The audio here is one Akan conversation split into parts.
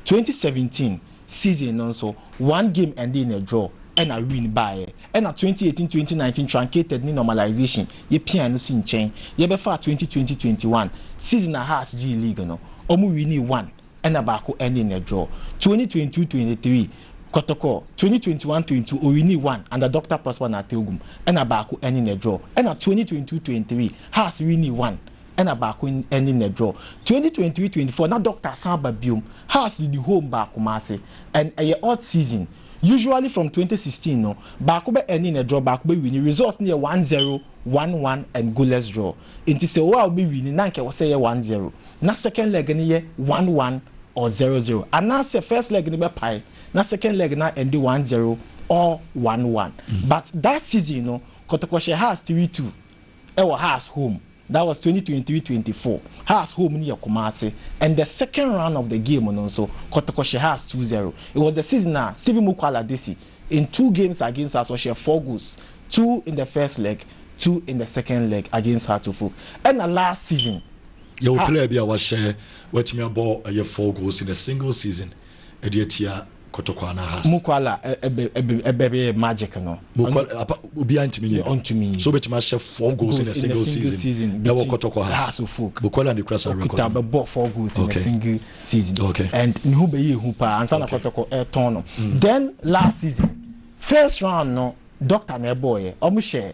Twenty seventeen season no nso one game endee in a draw ɛna win baeɛ. Ɛna twenty eighteen, twenty nineteen truncated ne normalization yɛ piaa no si nkyɛn yɛbɛfaa twenty twenty, twenty one season a Hearts gyee league no ɔmo winii one ɛna baako endee in a draw. Twenty twenty two, twenty three kɔtɔkɔ twenty twenty one, twenty two ɔwinii one under Doctor Prosper Nartey Ogum ɛna baako endee in a draw ɛna twenty twenty two, twenty three Hearts winii one ɛna baako ɛne nɛ draw twenty twenty three twenty four na doctor san ba biom hearts de di home baa kumase and ɛyɛ odd season usually from twenty sixteen no baako bɛ ɛne nɛ draw baako bɛ wini results no yɛ one zero one one and goalless draw nti sɛ owa ɔbɛ wini na nka ɛwɔ sɛ yɛ one zero na second leg no yɛ one one or zero zero anaasɛ first leg no bɛ pae na second leg na ɛnde one zero or one one but that season no kɔtɔkɔ hyɛ hearts three two. Ɛwɔ Haas home that was twenty twenty three twenty four Haas home no yɛ Kumasi and the second round of the game no nso Kotoko hyɛ Haas two zero it was the season a Sivi Mukwala Desi in two games against us ɔhyɛɛ four goals two in the first leg two in the second leg against Hartlefolk ɛna last season Yɛwɔ Ha player bi a wahyɛ watumi abɔ ɛyɛ four goals in a single season ɛde atia kotokwa na has. Mu kwala ɛbɛ bɛ magic no. Mu kwala apa obi antimi nyɛ. Ɔntumi nyɛ. So betumi ahyɛ four goals in a single season. Ɛwɔ kotokwa has. Mu kwala ne kura sa record. Okuta bɛ bɔ four goals in a single season. Okay. And ne ho bɛ yɛ ehu paa ansa na kotokwa ɛtɔn no. Then last season first round no doctor na ɛbɔ yɛ. Ɔmo hyɛ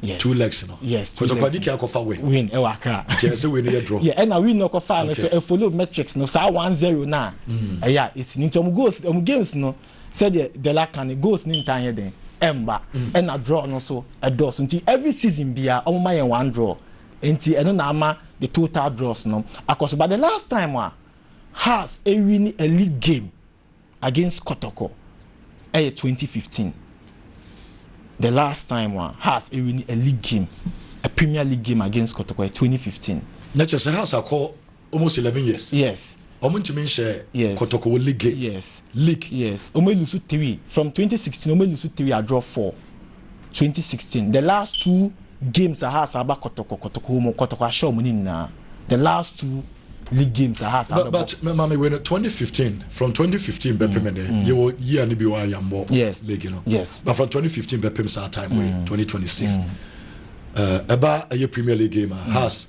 yes two legs no yes two legs kɔtɔkɔdi kí akɔfa win win ɛwɔ eh, akra kyerɛ sɛ win yɛ draw yɛ ɛna eh, win no kɔfa no so ɛ eh, follow metrics no saa one zero na mm. ɛyɛ a esi nti ɔmo goals ɔmo games no sɛdeɛ dela kan ne goals ne ntan yɛ den ɛmba mm. ɛna draw no so ɛdɔɔso nti every season bia ɔmo ma yɛn one draw nti ɛno na ama the total draws no akɔso but the last time a ah, has ewi ni a league game against Kɔtɔkɔ ɛyɛ twenty fifteen the last time a Hearts ɛwini a league game a Premier League game against Kɔtɔkɔ ɛyɛ twenty fifteen. Na kyerɛ sɛ Hearts akɔ almost eleven years. Yes. Wɔn ntumi nhyɛ yes. Kɔtɔkɔ wɔ league game. Yes. League. Yes. Wɔn elusu three from twenty sixteen wɔn elusu three a draw four. twenty sixteen the last two games aha asa aba kɔtɔkɔ kɔtɔkɔ wɔn kɔtɔkɔ ahyɛ wɔn ne nyinaa the last two league games aha asa abɛbɔ. but mɛ maame wei no twenty fifteen from twenty fifteen bɛ pem ne yɛ wɔ yia ne bi wɔ ayambɔ league no yes but from twenty fifteen bɛ pem saa time wei mm. twenty twenty six ɛba ɛyɛ premier league game a mm. has.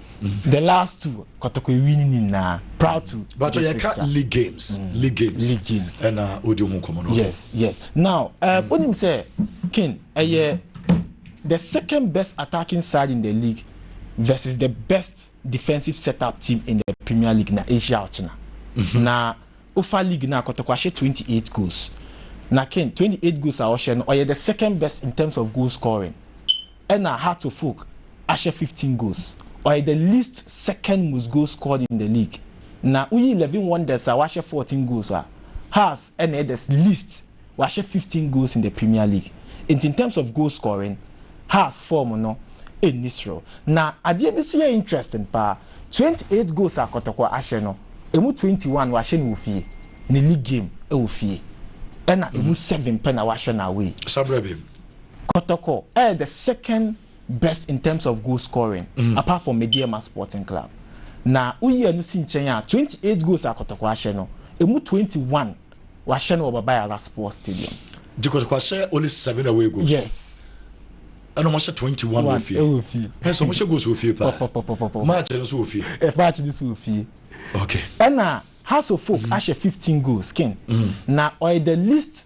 The last two kɔtɔkɔ wi ne ne nyinaa proud to. Bàtò yɛ ka league games league games league games ɛna o di ho nkɔmɔ no. Yes yes now ɛɛ o nim sɛ kin ɛyɛ the second best attacking side in the league versus the best defensive set up team in the premier league na ahyia ɔkyena mhm. na ofa league na kɔtɔkɔ ahyɛ twenty eight goals na kin twenty eight goals a ɔhyɛ no ɔyɛ the second best in terms of goal scoring Ɛna Hato Folk ahyɛ fifteen goals. Ɔyɛ the least second most goals scored in the league. Na woyi Levin Wonders a wahyɛ fourteen goals a, Haas ɛna ɛyɛ the least, wahyɛ fifteen goals in the Premier League. Nti in terms of goal scoring, Haas form no nni soro. Na adeɛ bi nso yɛ interesting paa, twenty eight goals a Kɔtɔkɔ ahyɛ no, ɛmu twenty one wahyɛ no wɔ fie, ne league game wɔ fie. Ɛna ɛmu seven pɛ na wahyɛ no away. Sabrabim. Kɔtɔkɔ ɛyɛ the second best in terms of goal scoring apart from Medeɛma Sporting Club. Na woyi ɛno si nkyɛn a, twenty eight goals a Kɔtɔkɔ ahyɛ no, ɛmu twenty one wahyɛ no wɔ Baba Yara Sports Stadium. Nti Kɔtɔkɔ ahyɛ only seven away goals? Yes. Ɛna wɔahyɛ twenty one wɔ fie? Ɛwɔ fie. Ɛsɛ wɔn hyɛ goals wɔ fie paa. Pɔpɔpɔpɔpɔ. Match no nso wɔ fie? Ɛ match no nso wɔ fie. Okay. Ɛna Hearts of Oak ahyɛ fifteen goals kin. Na ɔyɛ the least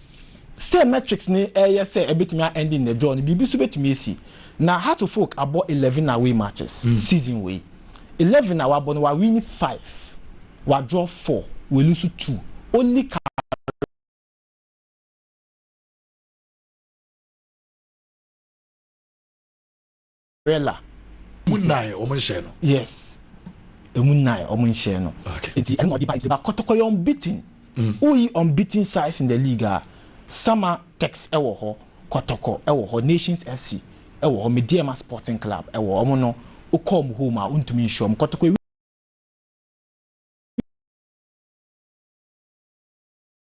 Sɛ metrics no reyɛ sɛ ɛbɛtumi a ending the draw no, biribi nso bɛtumi asi. Na Heartlefolk abɔ eleven away matches season wei. Eleven a wabɔ no, wawini five, wadraw four, walusu two. Only Kareem. umbrella. Mu nnan wɔn nhyɛn no. Yes. Emu nnan wɔn nhyɛn no. Okay. Nti ɛna ɔde ba nti ba kɔtɔkɔ yɛ unbeaten. Mm. Woyi unbeaten size in the league a Sama Tex ɛwɔ hɔ, kɔtɔkɔ ɛwɔ hɔ, Nations FC ɛwɔ hɔ, Medeɛma Sporting Club ɛwɔ hɔ. Wɔn no wokɔ wɔn home a wontumi nhyɛ wɔn. Kɔtɔkɔ ewi.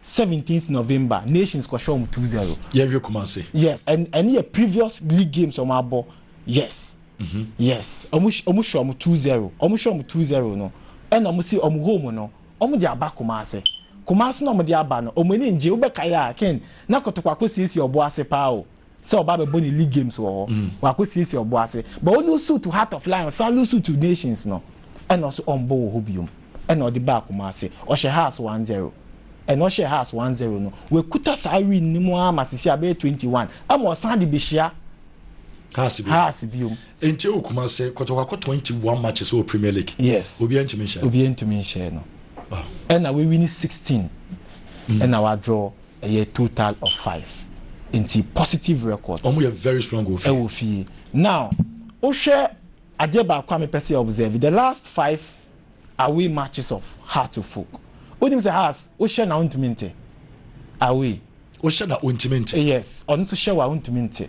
Seventeenth November nations kɔ hyɛ wɔn two zero. Yɛ hwɛ Kumasi. Yes ɛn ɛne yɛ previous league games wɔn abɔ yes mhm. yes wɔn wɔn hyɛ wɔn two zero wɔn hyɛ wɔn two zero no ɛna wɔn si wɔn home no wɔn de aba Kumasi Kumasi na wɔn de aba no wɔn ani ngye wobɛka yɛ a ken na kɔtɔkɔ akɔ siesie ɔbo ase paa o. sɛ ɔba bɛbɔ ne league games wɔ hɔ wakɔ siesie ɔbo ase but wo lose suit heart of lion san lose suit nations no ɛna ɔso ɔmbɔ wɔ hɔ biom ɛna ɔde baa Kumasi ɔhyɛ house one zero ɛna ɔhyɛ house one zero no wakuta saa win ne mu ara ma sisi abɛyɛ twenty one ɛma ɔsan de bɛhyia Haas bi. Haas bi o. Nti o kuma se kɔtɔkɔ akɔ 21 matches wɔ Premier League. Yes. Obi ntumi nhyɛ. Obi ntumi nhyɛ no. Ɛna we win 16. Ɛna wa draw. ɛyɛ total of five nti positive records Ɔmo yɛ very strong wɔ fie. ɛwɔ fie now wohwɛ adeɛ baako a mepɛ sɛ yɛ observe the last five away matches of Hearts of Oak wonim sɛ Hearts wohyɛ no a wontumi nte away Wohyɛ no a ontumi nte. yes ɔno nso hyɛ wo a wontumi nte.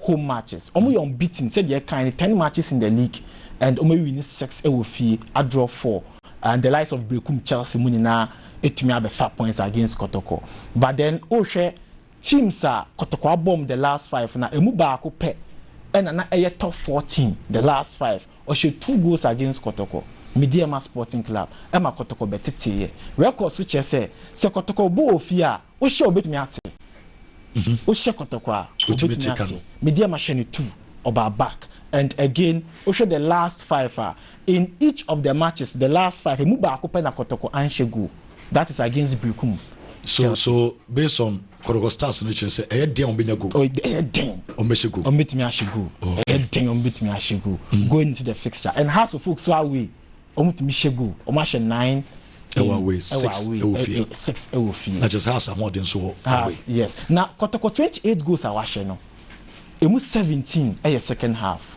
home matches, wɔyɛ unbeaten sɛdeɛ ɛkae no ten matches in the league and wɔawini six wɔ fie adraw four and the likes of Berekum Chelsea mu nyinaa atumi abɛfa points against Kɔtɔkɔ but then wohwɛ teams a Kɔtɔkɔ abɔ wɔn the last five no a ɛmu baako pɛ na na ɛyɛ top four team the last five. Ɔhyɛ two goals against Kɔtɔkɔ, Medeama Sporting Club, ma Kɔtɔkɔ bɛteteeɛ. Record so kyerɛ sɛ, sɛ Kɔtɔkɔ bɔ wɔ fie a, wohyɛ a ɔbɛtumi ate. Wohyɛ Kɔtɔkɔ a, ɔbɛtumi ate. Medeama hyɛ no two, ɔbaa back. And again, wohwɛ the last five a, in each of the matches, the last five, ɛmu baako pɛ na Kɔtɔkɔ anhyɛ goal. That is against Berekum, Chelsea. So, based on Korogostaso no kyerɛ sɛ ɛyɛ den a wɔbɛnya goal. Oh, ɛyɛ den. Wɔbɛhyɛ goal. Wɔbɛtumi ahyɛ goal. Okay. Ɛyɛ den a wɔbɛtumi ahyɛ goal. Mm. Going into the fixture and Hearts of Oak so away wɔbɛtumi hyɛ goal. Wɔn ahyɛ nine. Ɛwɔ away six ɛwɔ fie. Eh, eh, six ɛwɔ fie. Na kyerɛ sɛ Hearts ahoɔden so wɔ away. Yes. Na kɔtɔkɔ twenty eight goals a wɔahyɛ no, emu seventeen ɛyɛ second half.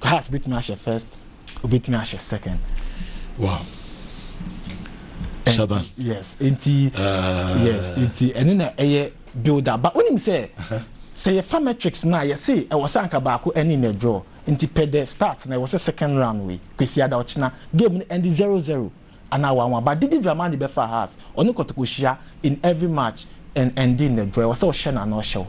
Cars betumi ahyɛ first, obetumi ahyɛ second. Wow. Saba. Yes, enti ah. yes, enti ɛne na ɛyɛ builder. But wonim sɛ sɛ yɛfa metrics na yɛse ɛwɔ sɛ anka baako ɛne na draw. Enti pɛ dɛ start na ɛwɔ sɛ second round wei. Kwesi ada ɔkyena game no ɛnde zero zero anaa one one. But Didi Dramani bɛfa Haas. Ɔne Kotoko hyia in every match and ɛnde na draw. Ɛwɔ sɛ ɔhyɛ no anaa ɔhyɛ wo.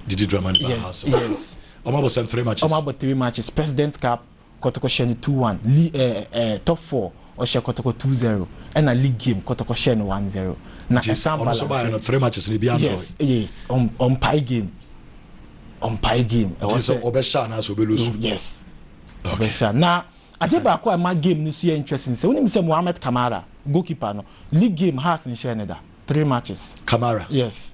Didi Dramani bɛfa Haas. Yes. Ɔmo abɔ sɛn three matches? Ɔmo abɔ three matches, President Cup, Kɔtɔkɔ hyɛ no two one, li eh eh Top four ɔhyɛ Kɔtɔkɔ two zero, ɛna league game Kɔtɔkɔ hyɛɛ no one zero, na Nti ɛsan ɔno so baayɛ balanse. no three matches no ebiaa ndrɔɔe? Yes, yes, ɔm ɔmpae game, ɔmpae game, ɛwɔ Nti sɛ sɛ. ɔbɛhyɛ anaasɛ ɔbɛ lose? No, yes, Okay. ɔbɛhyɛ. Na adeɛ baako a ɛma game no so yɛ interesting sɛ, wonim sɛ Mohamed Kamara, goalkeeper no, league game Hearts nhyɛɛ no da, three matches. Kamara? Yes.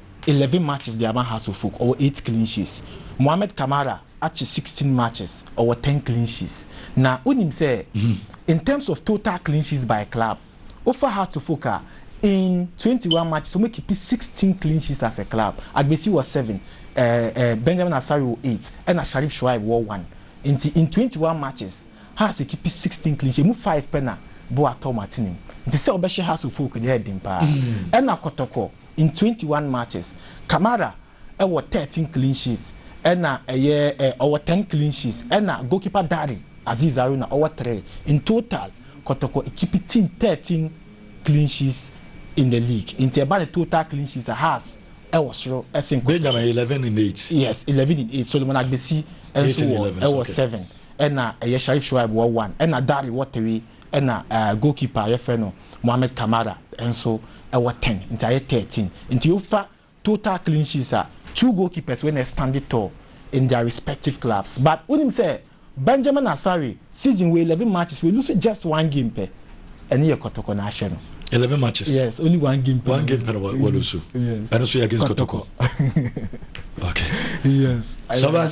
eleven matches de ama Hearts of Oak, ɔwɔ eight clean sheets. Mohamed Kamara akye sixteen matches, ɔwɔ ten clean sheets. Na wonim sɛ in terms of total clean sheets by club, wofa Hearts of Oak a, in twenty one matches, wɔakipi sixteen clean sheets as a club. Agbesi wɔ seven, eh, eh, Benjamin Asare wɔ eight, ɛna Sharif Shoaib wɔ one. Nti in twenty one matches, Hearts akipi sixteen clean sheets, emu five pɛ na Boateng atene mu. Nti sɛ wobɛhyɛ Hearts of Oak deɛ, ɛyɛ den paa. Ɛna Kɔtɔkɔ. In twenty one matches, Kamara wɔ thirteen clean sheets ɛna ɛyɛ eh, ɔwɔ ten clean sheets ɛna goalkeeper Dare Azeez Haruna ɔwɔ three. In total, Kɔtɔkɔ ekipi team thirteen clean sheets in the league. Nti ɛba ne total clean sheets a, Hearts wɔ soro sen Kɔtɔkɔ. Benjamin eleven in eight. Yes, eleven in eight. Solomon Agbesi Eight nso in wɔ eleven, ɛwɔ okay. seven ɛna ɛyɛ Sharif Shoaib wɔ one ɛna Dare wɔ three. Ɛna goal keeper a yɛfrɛ no Mohamed Kamara nso wɔ ten nti ayɛ thirteen. Nti wofa total clean sheets a, two goal keepers wei na ɛstand tall in their respective clubs. But wonim sɛ Benjamin Asare season wei eleven matches we lose just one game pɛ, ɛno yɛ Kɔtɔkɔ na ahyɛ no. Eleven matches? Yes, only one game pɛ. One game pɛ na wa lose. Yes. Ɛno nso yɛ against Kɔtɔkɔ. Okay. Yes. Saba.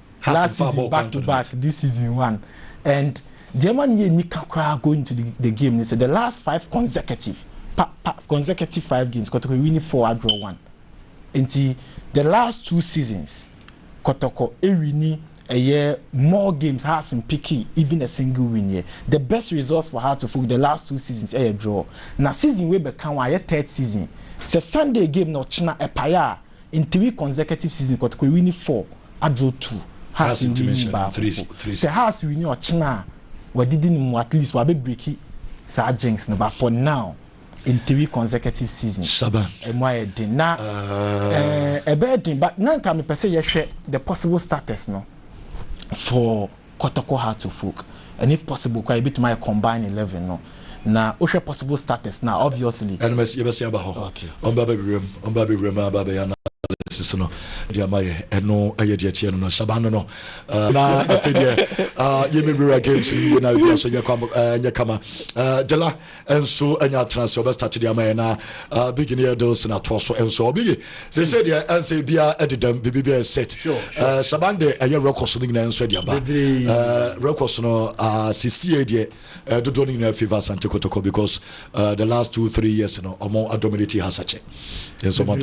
last season back to back this season one and deɛ ɛma no yɛ nika koraa going to the the game ne sɛ the last five consecutive pa pa consecutive five games kɔtɔkɔ ewini four adraw one nti the last two seasons kɔtɔkɔ ewini ɛyɛ more games has mpiki even a single win yɛ the best results for her to folk the last two seasons ɛyɛ draw na season wei bɛka wɔn ayɛ third season sɛ Sunday game na ɔkyena ɛpaeɛ a. In three consecutive seasons Kotoko ewini four adro two Hearts ewini baako mpo. Sɛ Hearts wini ɔkyena a wadidi no mu at least wabɛ breaki saa jinx no but for now in three consecutive seasons Shaban. ɛmu ayɛ den na ɛɛɛ ɛbɛyɛ den but na nka mepɛ sɛ yɛhwɛ the possible starters no for Kotoko How to Folk, and if possible koraa yɛbɛtumi ayɛ Combine Eleven no, na wohwɛ possible starters no a, obviously. Ɛno mɛs, yɛbɛsan aba hɔ. Okay. Ɔmba abɛwura mu, ɔmba abɛwura mu aba abɛyɛ analysis no de ama yɛ. Ɛno yɛ deɛ ɛteɛ no no. Shaban no no, uh, na afei deɛ, uh, yɛmɛwura games no yie na bia so nyɛ, kwa, uh, nyɛ kama. Uh, Dela. nso anya atena ase ɔbɛ start de ama yɛ na uh, big ne yɛ deals na toɔ so nso ɔbi ye sɛ sɛ deɛ ɛnsɛ bia ɛde dɛm biribi bi yɛ set uh, saban de ɛyɛ records no nyinaa nso ɛde aba uh, records no uh, sisie deɛ uh, dodoɔ no nyinaa favor asante kotoko because uh, the last two three years no ɔmo adominate hasakyɛ nso ɔmo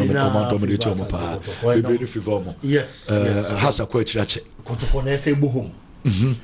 adominate ɔmo paa bebree no favor ɔmo uh, hasa kɔ akyiri akyɛ kotoko na ɛsɛ bohom mm-hmm.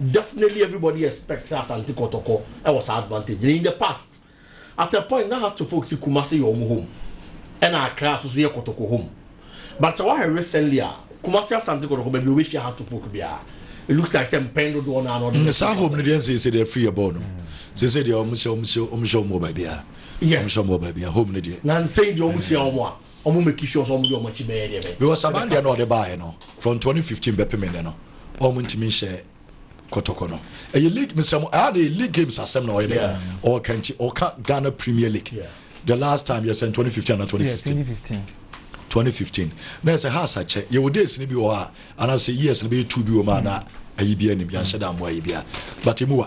Definitely everybody expect sɛ Asante Kɔtɔkɔ wɔ saa advantage no in the past at a point na Hato folks se Kumase yɛ wɔn home ɛna Accra nso so yɛ Kɔtɔkɔ home but sɛ woahwɛ recently a Kumase Asante Kɔtɔkɔ baabi a wobɛhyia Hato folk biara it looks like sɛ mpɛn dodoɔ no ara na ɔde bɛhyɛ saa home no deɛ nsɛ sɛ deɛ afiri yɛ bɔɔ no sɛ sɛ deɛ wɔn hyɛ wɔn hyɛ wɔn hyɛ wɔn wɔ baabi a wɔn hyɛ wɔn wɔ baabi a home no deɛ na nsɛn deɛ wɔn hyia wɔn a Ɔmo make sure sɛ ɔmo de ɔmo akyi bɛyɛ deɛ ɛbɛyɛ. Because aban deɛ na ɔde baeɛ no from twenty fifteen bɛpem nnɛ no ɔmo ntumi nhyɛ kɔtɔkɔ no. Ɛyɛ league mesrɛ mo ɛha na ɛyɛ league games asɛm na ɔyɛ dɛ Yeah. ɔɔka nti ɔka Ghana Premier League Yeah. the last time yɛ sɛn twenty fifteen ana twenty Yeah, sixteen 2015. twenty fifteen na ɛsɛ house akyɛ yɛwɔ days no bi wɔ hɔ a anaasɛ years no bɛyɛ two bi wɔ mu a na ayi bi anim yɛnhyɛ da mmoa ayi bi a but ɛmu wa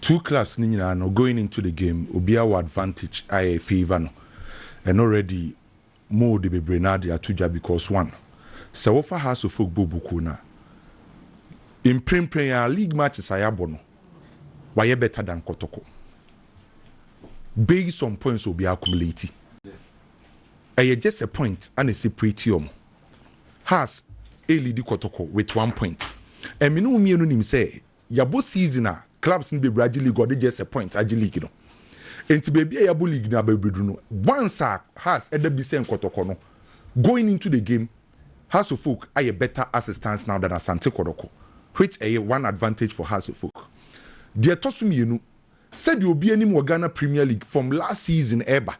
Two class no nyinaa no going into the game obiaa wɔ advantage a ɛ favour no and already mo de bebree no ara de ato dwa because one sɛ wo fa Hearts of Oak bɔ Obukuo no a mprempren ara league matches a yɛabɔ no wayɛ better than Kɔtɔkɔ based on points a obiaa accumulate ɛyɛ just a point a na ɛseparate wɔn Hearts ɛreleadi Kɔtɔkɔ with one point and me ne wo mmienu nim sɛ yɛabɔ season a clubs no bɛwura agye league a ɔde gyɛsɛ points agye league no. Enti baabi a yɛabɔ league no abɛbɛduru no, once a Hearts ɛda bi sɛ nkɔtɔkɔ no, going into the game, Hearts of Oak ayɛ better assistance now than Asante Kɔdɔkɔ, which ɛyɛ one advantage for Hearts of Oak. Deɛ ɛtɔ so mmienu, sɛdeɛ obi anim wɔ Ghana Premier League from last season ɛreba,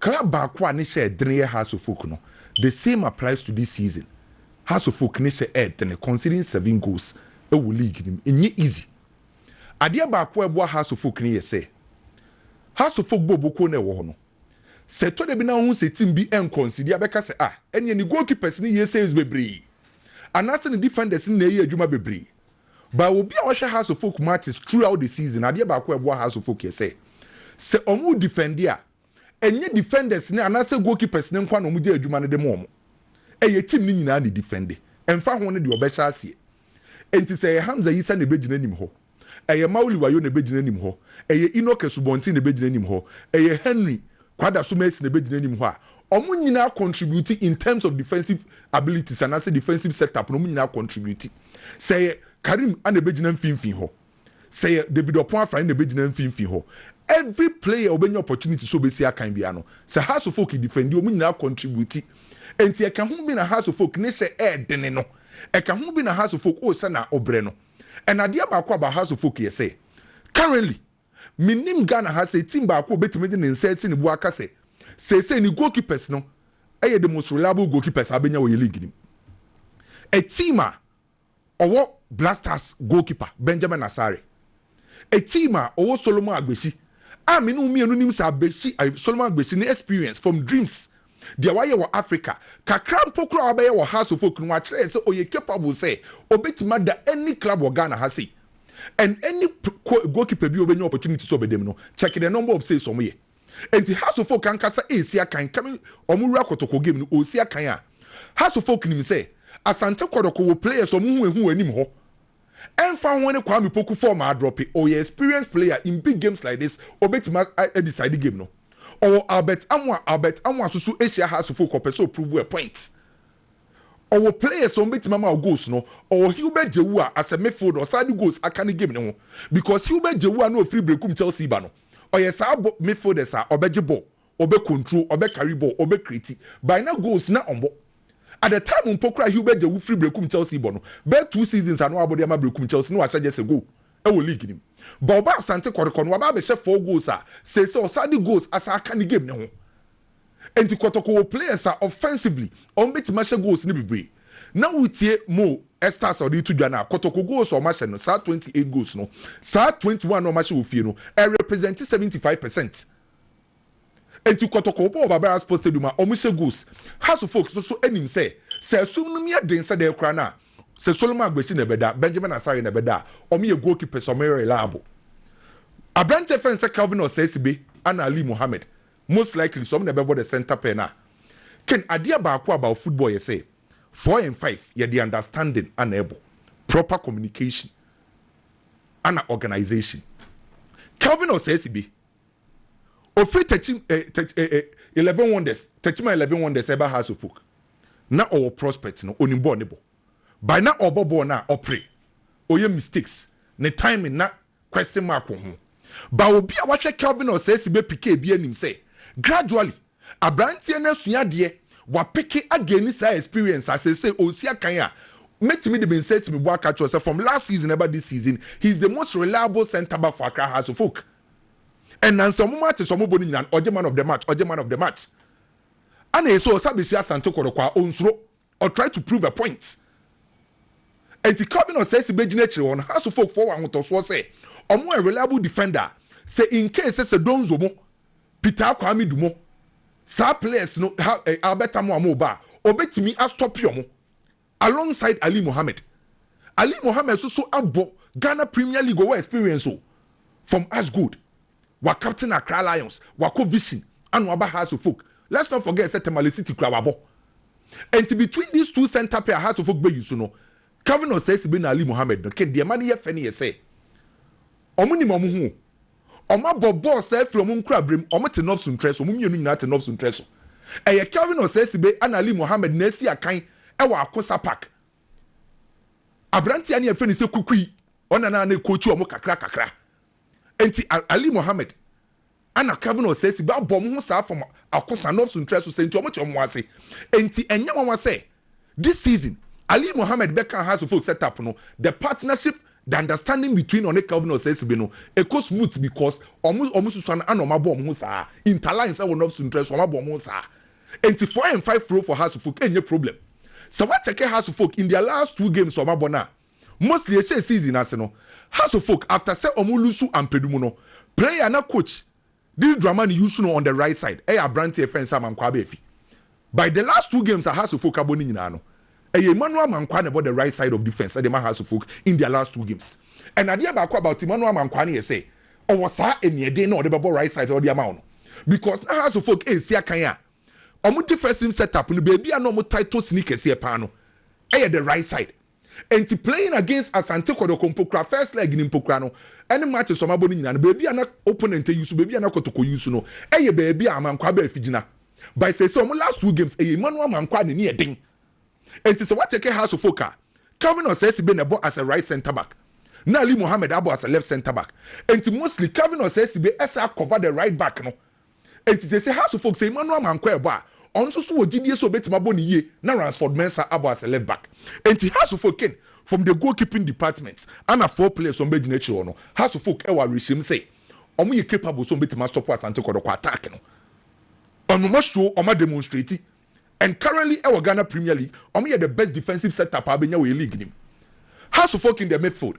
Club baako a ne hyɛ ɛdene yɛ Hearts of Oak no, the same applies to this season. Hearts of Oak ne hyɛ ɛɛdene conceding seven goals wɔ league no mu. Ɛnyɛ easy. Adeɛ baako a ɛboa Hearts of Oak ne yɛ sɛ, Hearts of Oak bɔɔlbɔkuo no a ɛwɔ hɔ no, sɛ ɛtɔ da bi na wohu sɛ team bi nconcede a, bɛka sɛ, ah, ɛneɛ ne goalkeepers no yɛ saves bebree, anaasɛ ne defenders no na ɛyɛ adwuma bebree. By obi a ɔhwɛ Hearts of Oak matches throughout the season, adeɛ baako a ɛboa Hearts of Oak yɛ sɛ, sɛ wɔredifɛnde a, ɛnyɛ defenders no anaasɛ goalkeepers no nko ara na wɔgyae adwuma no de ma wɔn. Ɛyɛ team no nyinaa na ɛdifɛnde, ɛmfa ho no deɛ ɔbɛhyɛ aseɛ. Enti sɛ ɛyɛ Hamza Yisa na ɛbɛgyina anim hɔ, ɛyɛ Mauli Wayo na ɛbɛgyina anim hɔ, ɛyɛ Enoch Asubɔnten na ɛbɛgyina anim hɔ, ɛyɛ Henry Kwadaso Mercy na ɛbɛgyina anim hɔ a, wɔn nyinaa contribute in terms of defensive abilities anaasɛ defensive set-up no, wɔn nyinaa contribute. Sɛ ɛyɛ Karim na ɛbɛgyina mfimfini hɔ, sɛ ɛyɛ David Ɔpon Afrane na ɛbɛgyina mfimfini hɔ, every player a ɔbɛnya opportunity sɛ ɔbɛsi akan biara no, sɛ Hearts of Oak defendi, wɔn nyinaa contribute. Enti ɛka ho bi na Hearts of Oak ne hyɛ ɛɛdene no. Ɛka ho bi na Hearts of Oak, oh sɛnea wobrɛ no. And adeɛ baako about Hearts of Oak yɛ sɛ, currently, Mennim Ghana ha sɛ team baako a obetumi de ne nsa asi ne bo aka sɛ seesei ne goalkeepers no yɛ the most reliable goalkeepers a abenya wɔ yɛn league no mu. A team a ɔwɔ Black Stars goalkeeper Benjamin Asare. A team a ɔwɔ Solomon Agbesi a me ne wo mmienu nim sɛ Agbesi, Solomon Agbesi ne experience from Dreams deɛ wayɛ wɔ Africa, kakra mpo koraa a wabɛyɛ wɔ House of Oak no, wakyerɛ yɛn sɛ ɔyɛ capable sɛ ɔbɛtumi ada any club wɔ Ghana ha sei. And any goalkeeper bi a ɔbɛnya opportunity sɛ ɔbɛda mu no, check the number of saves wɔn yɛ. Enti House of Oak ankasa resi akan coming wɔn wura kɔtɔkɔ game no, ɔresi akan a, House of Oak nim sɛ Asante Kɔdɔkɔ wɔ players a wɔn ho ahu wɔ anim hɔ. ɛnfa ho ne Kwame Poku form a adrɔpe, ɔyɛ experienced player in big games like this, ɔbɛtumi a decide game no. Ɔwɔ Albert Amoah, Albert Amoah nso so hyia Hearts folk, ɔpɛ sɛ ɔprove a point. Ɔwɔ players a wɔbɛtumi ama wɔ goals no, ɔwɔ Hubert Jewua as a midfielder, ɔsan de goals aka ne game no ho because Hubert Jewua no a ɔfiri Berekum Chelsea ba no, ɔyɛ saa midfielders a ɔbɛgye ball ɔbɛ control, ɔbɛ carry ball, ɔbɛ create, by na goals na ɔmbɔ. At the time mpo koraa Hubert Djawu firi Berekum Chelsea bɔ no, bɛyɛ two seasons a na wabɔ de ama Berekum Chelsea na wahyɛ just a goal wɔ league no mu. But ɔbaa Asante Kɔtɔkɔ no, waba abɛhyɛ four goals a seesei ɔsan de goals asan aka ne game no ho. Enti Kɔtɔkɔ wɔ players a offensively wɔn bɛtumi ahyɛ goals no bebree. Na wotie Mo Estars a ɔde reto dwa no a, Kɔtɔkɔ goals a wɔahyɛ no, saa twenty eight goals no, saa twenty one a wɔahyɛ wɔ fie no, ɛrepresent seventy five percent Enti Kɔtɔkɔ bɔɔ Babara Sports Stadium a wɔhyɛ goals. Haso folks no nso nim sɛ, sɛ asum no mu yɛ den sɛ dɛn koraa no a, sɛ Solomon Agbashi na ɛbɛda, Benjamin Asare na ɛbɛda a, wɔyɛ goalkeepers a wɔyɛ reliable. Aberante a yɛfrɛ no sɛ Calvin Osaisibe anaa Ali Mohammed, most likely sɛ wɔn na ɛbɛbɔ the centre pɛn a, Ken, adeɛ baako about football yɛ sɛ, four and five, yɛde understanding ana ɛbɔ, proper communication ana organisation. Calvin Osaisibe. Ofiri Techiman eh, Tech eh, eh, Eleven Wonders, Techiman Eleven Wonders ɛba House of Folk. Na ɔwɔ prospect no, onim bɔɔl ne bɔ. By na ɔbɔ bɔɔl no a, ɔpere, ɔyɛ mistakes, ne timing na question mark wɔ ho. But obi a wahwɛ Kelvin Osaisi bɛ PK biara nim sɛ, gradually, abranteɛ no asua adeɛ, wapeke againi saa experience a seesei ɔresi akan a, mɛtumi de me nsa asi me bo aka akyerɛ wo sɛ from last season ɛba this season, he is the most reliable centre back for Accra House of Folk. Ɛnam sɛ wɔn matches a wɔbɔ no nyinaa no, ɔgye man of the match, ɔgye man of the match. Ana ɛsɛ ɔsa bɛhyia Asante Kɔrɔkɔ a ɔnsuro, ɔ try to prove a point. Ɛnti Calvin Osaisi bɛgyina akyire hɔ no, Hearts folk foɔ wɔ ahotɔsoɔ sɛ wɔn wɔ a reliable defender a sɛ in case sɛ sɛ Donzo mo, Peter Akwame Du mo, saa players no ha ɛ Albert Amoah mo reba a, ɔbɛtumi a stop wɔn. alongside Ali Mohammed. Ali Mohammed so so abɔ Ghana Premier League ɔwɔ experience o from Ash Gold wa captain Accra Lions wakɔ Vision ano aba Hearts of Oak let's not forget sɛ Tamale City kura wabɔ ɛnti between these two centre pair a Hearts of Oak bɛ use no Calvin Osaisibe na Ali Mohammed no kin deɛ ɛma no yɛ fɛ no yɛ sɛ ɔmo nim ɔmo ho o. Wɔabɔ bɔɔl saa firi wɔn nkorabere mu. Wɔte North Suntrɛ so. Wɔn mmienu nyinaa te North Suntrɛ so. Ɛyɛ Kelvin Osei-Sibe ɛna Ali Mohammed na ɛsi akan wɔ Akosa Park. Aberanteɛ no yɛfrɛ no sɛ Kukui. Ɔna na ne kookyi wɔn kakra kakra. Enti Ali Mohammed ɛna Kelvin Osei-Sibe abɔ wɔn ho saa from Akosa, North Suntrɛ so sɛ nti wɔte wɔn ase. Enti ɛnyɛ nwanwa sɛ This season, Ali Mohammed bɛkaa House of Folk sɛ tap no, the partnership, the understanding between ɔne Calvin Osaisibe no, ɛkɔ smooth because ɔmo ɔmo susua no ana ɔmo abɔ ɔmo ho saa, interline sɛ wɔn ɔfsu ntrɛ so ɔmo abɔ ɔmo ho saa. Ɛnti four and five role for House of Folk ɛnyɛ problem. Sɛ wa check House of Folk in their last two games a ɔmo abɔ no a, mostly ɛhyɛɛ season no ase no, House of Folk after sɛ ɔmo loosu Ampadu mu no, player na coach Didi Dramani Yusuno on the right side ɛyɛ aberanteɛ fɛn sɛ Amankwaa aba afi by the last two games a Hasofolk abɔ no nyinaa no ɛyɛ Emmanuel Amankwaa na ɛbɔ the right side of defence ɛde ma Hasofolk in their last two games and adeɛ baako about Emmanuel Amankwaa no yɛ sɛ ɔwɔ saa aniɛden no a ɔde bɛbɔ right side sɛ ɔde ama wo no because na Hasofolk ɛresi akan a wɔn defensive set up no baabi a na wɔtae tɔ sini kɛseɛ paa no ɛyɛ the right side Enti playing against Asante Kɔdɔkɔ Mpokura first leg no Mpokura no ne matches a wɔabɔ no nyinaa no baabi a na opponent use, baabi a na Kɔtɔkɔ use no yɛ baabi a Amankwaa baa figyina but seesei wɔn last two games ɛyɛ Emmanuel Amankwaa a n'ani yɛ den enti sɛ woakyɛke Hearts of Oak a Calvin Osaisibe na ɛbɔ as a right centre back na Ali Mohammed abɔ as a left centre back enti mostly Calvin Osaisibe san cover the right back no Enti seesei Hearts of Oak, sɛ Emmanuel ama ankɔ ɛbɔ a, ɔno nso so wɔ gyidie sɛ ɔbɛtumi abɔ no yie na Ransford Mensah abɔ as a left back. Enti Hearts of Oak Kane, from the goal keeping department, ana four players a wɔbɛgyina akyire hɔ no, Hearts of Oak wɔ awerɛhyɛmu sɛ wɔn yɛ capable sɛ wɔbɛtumi astɔpo Asante Kɔdɔkɔ attack no. Wɔn ahyoo, wɔn ademonstrate and currently wɔ Ghana Premier League, wɔyɛ the best defensive set up a wobɛnya wɔ yɛn league no mu. Hearts of Oak in the midfield,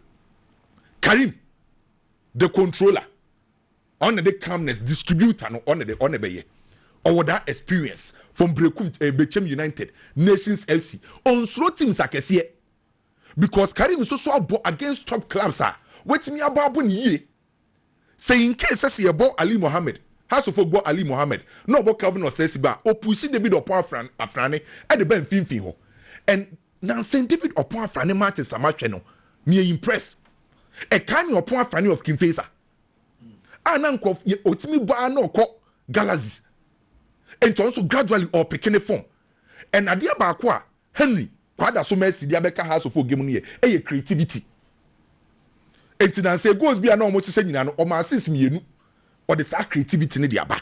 Karim, the controller. Ɔno de calmness distributor no ɔno de ɔno bɛyɛ ɔwɔ daa experience from brekum eh, bekyem united nations fc ɔnsuro teams akɛseɛ because karim nso so abɔ against top clubs a watumi abɔ abɔ ne yie sɛ in case sɛ sɛ yɛbɔ ali mohammed hasofo gbɔ ali mohammed na ɔbɔ calvin ɔsɛsi ba a ɔpusi david ɔpɔn afran afrane ɛde ba mfimfini hɔ and nansen david ɔpɔn afrane matches a mahwɛ no meyɛ impress ɛkae me ɔpɔn afrane of kimfesa a na nkurɔfo yɛ otumi bɔ ara na ɔkɔ galaxies nti ɔno nso gradually ɔrepeke ne form and adeɛ baako a Henry Kwada so Mercy de abɛka House of Ogem no yɛ ɛyɛ creativity nti na nsɛ goals bi a na wɔhyehyɛ nyinaa no wɔn ases mmienu ɔde saa creativity no de aba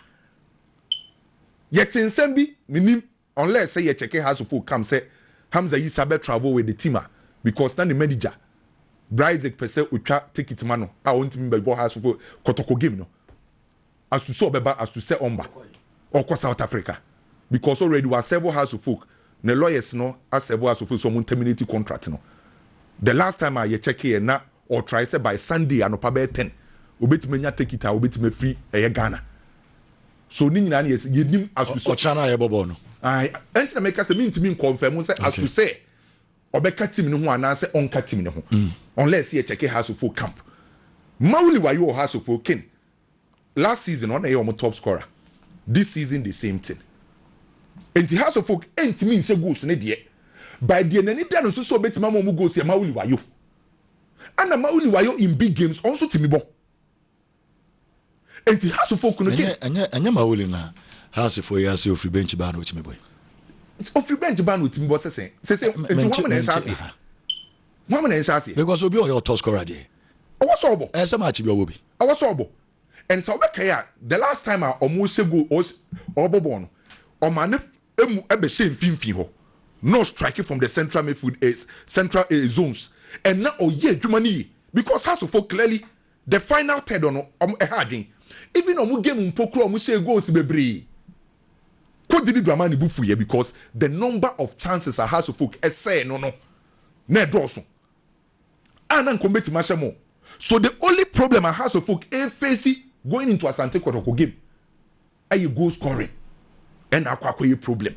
yɛte nsɛm bi menim Unless sɛ yɛ check house of folk come sɛ Hamza yi sa bɛ travel with the team a because na ne manager Bra Isaac pɛ sɛ otwa tekit ma no a ɔntumi mba bɔ house of folk kɔtɔkɔ game no as to sɛ ɔbɛba as to sɛ ɔmba ɔkɔ South Africa because already wa serve house of folk ne lawyers no a serve house of folk sɛ ɔmo nterminate contract no the last time a yɛ check yɛ na ɔtrae sɛ by Sunday anɔpa bɛyɛ ten obetumi anya tekit a obetumi afiri ɛyɛ Ghana. So ne nyinaa ne yɛse yɛnim as to sɛ. Ɔkyena no a yɛbɔ bɔɔl no. Ae, ɛnti na meka sɛ mentumi nkɔnfɛmo sɛ as to sɛ ɔbɛka team no ho anaasɛ ɔnka team no ho unless yɛ kyɛke Hearts foɔ camp. Mawuli Wayo wɔ Hearts foɔ ken last season ɔna ɛyɛ wɔn top scorer this season the same thing ɛnti Hearts foɔ ɛntumi nhyɛ goals ne deɛ by deɛ n'ani da no nso sɛ ɔbɛtumi ama wɔn goals yɛ Mawuli Wayo ɛna Mawuli Wayo in big games ɔnso tumi bɔ. Enti Hasifo kunu Ɛnyɛ King. ɛnyɛ ɛnyɛ Maoli na Hasifo yi ase ofiri bench baa na otumi bɔ yi. Ofiri bench baa na otumi bɔ sɛsɛn. Sɛsɛn Enti wɔn Mente na ɛhyɛ mente aseɛ. aha. Wɔn na ɛhyɛ aseɛ. Because obi a ɔyɛ ɔtɔ scorer deɛ Ɛwɔ sɛ ɔbɔ. ɛyɛ sɛ match bi ɔwɔ bi. Ɛwɔ sɛ ɔbɔ. And sɛ wobɛkae a the last time a wɔhyɛ goal ɔs ɔbɔ bɔɔl no ɔmaa ne f mu bɛhyɛɛ mfimfini hɔ na ɔstrike from the central midfield eh, central eh, zones and na ɔyɛ adwuma no yie because Hasifo clearly The final third no wɔn ɛha adwen. Even wɔn game mpo koraa wɔn hyɛɛ goals bebree. Coach Didi Dramani bo fuiɛ because the number of chances a Hearts of Oak ɛsɛɛ no no na ɛdɔɔso a na nka wɔn bɛtumi ahyɛ more. So the only problem a Hearts of Oak ɛɛfeesi going into Asante Kɔtɔkɔ game. ayɛ goal scoring na akɔ akɔyɛ problem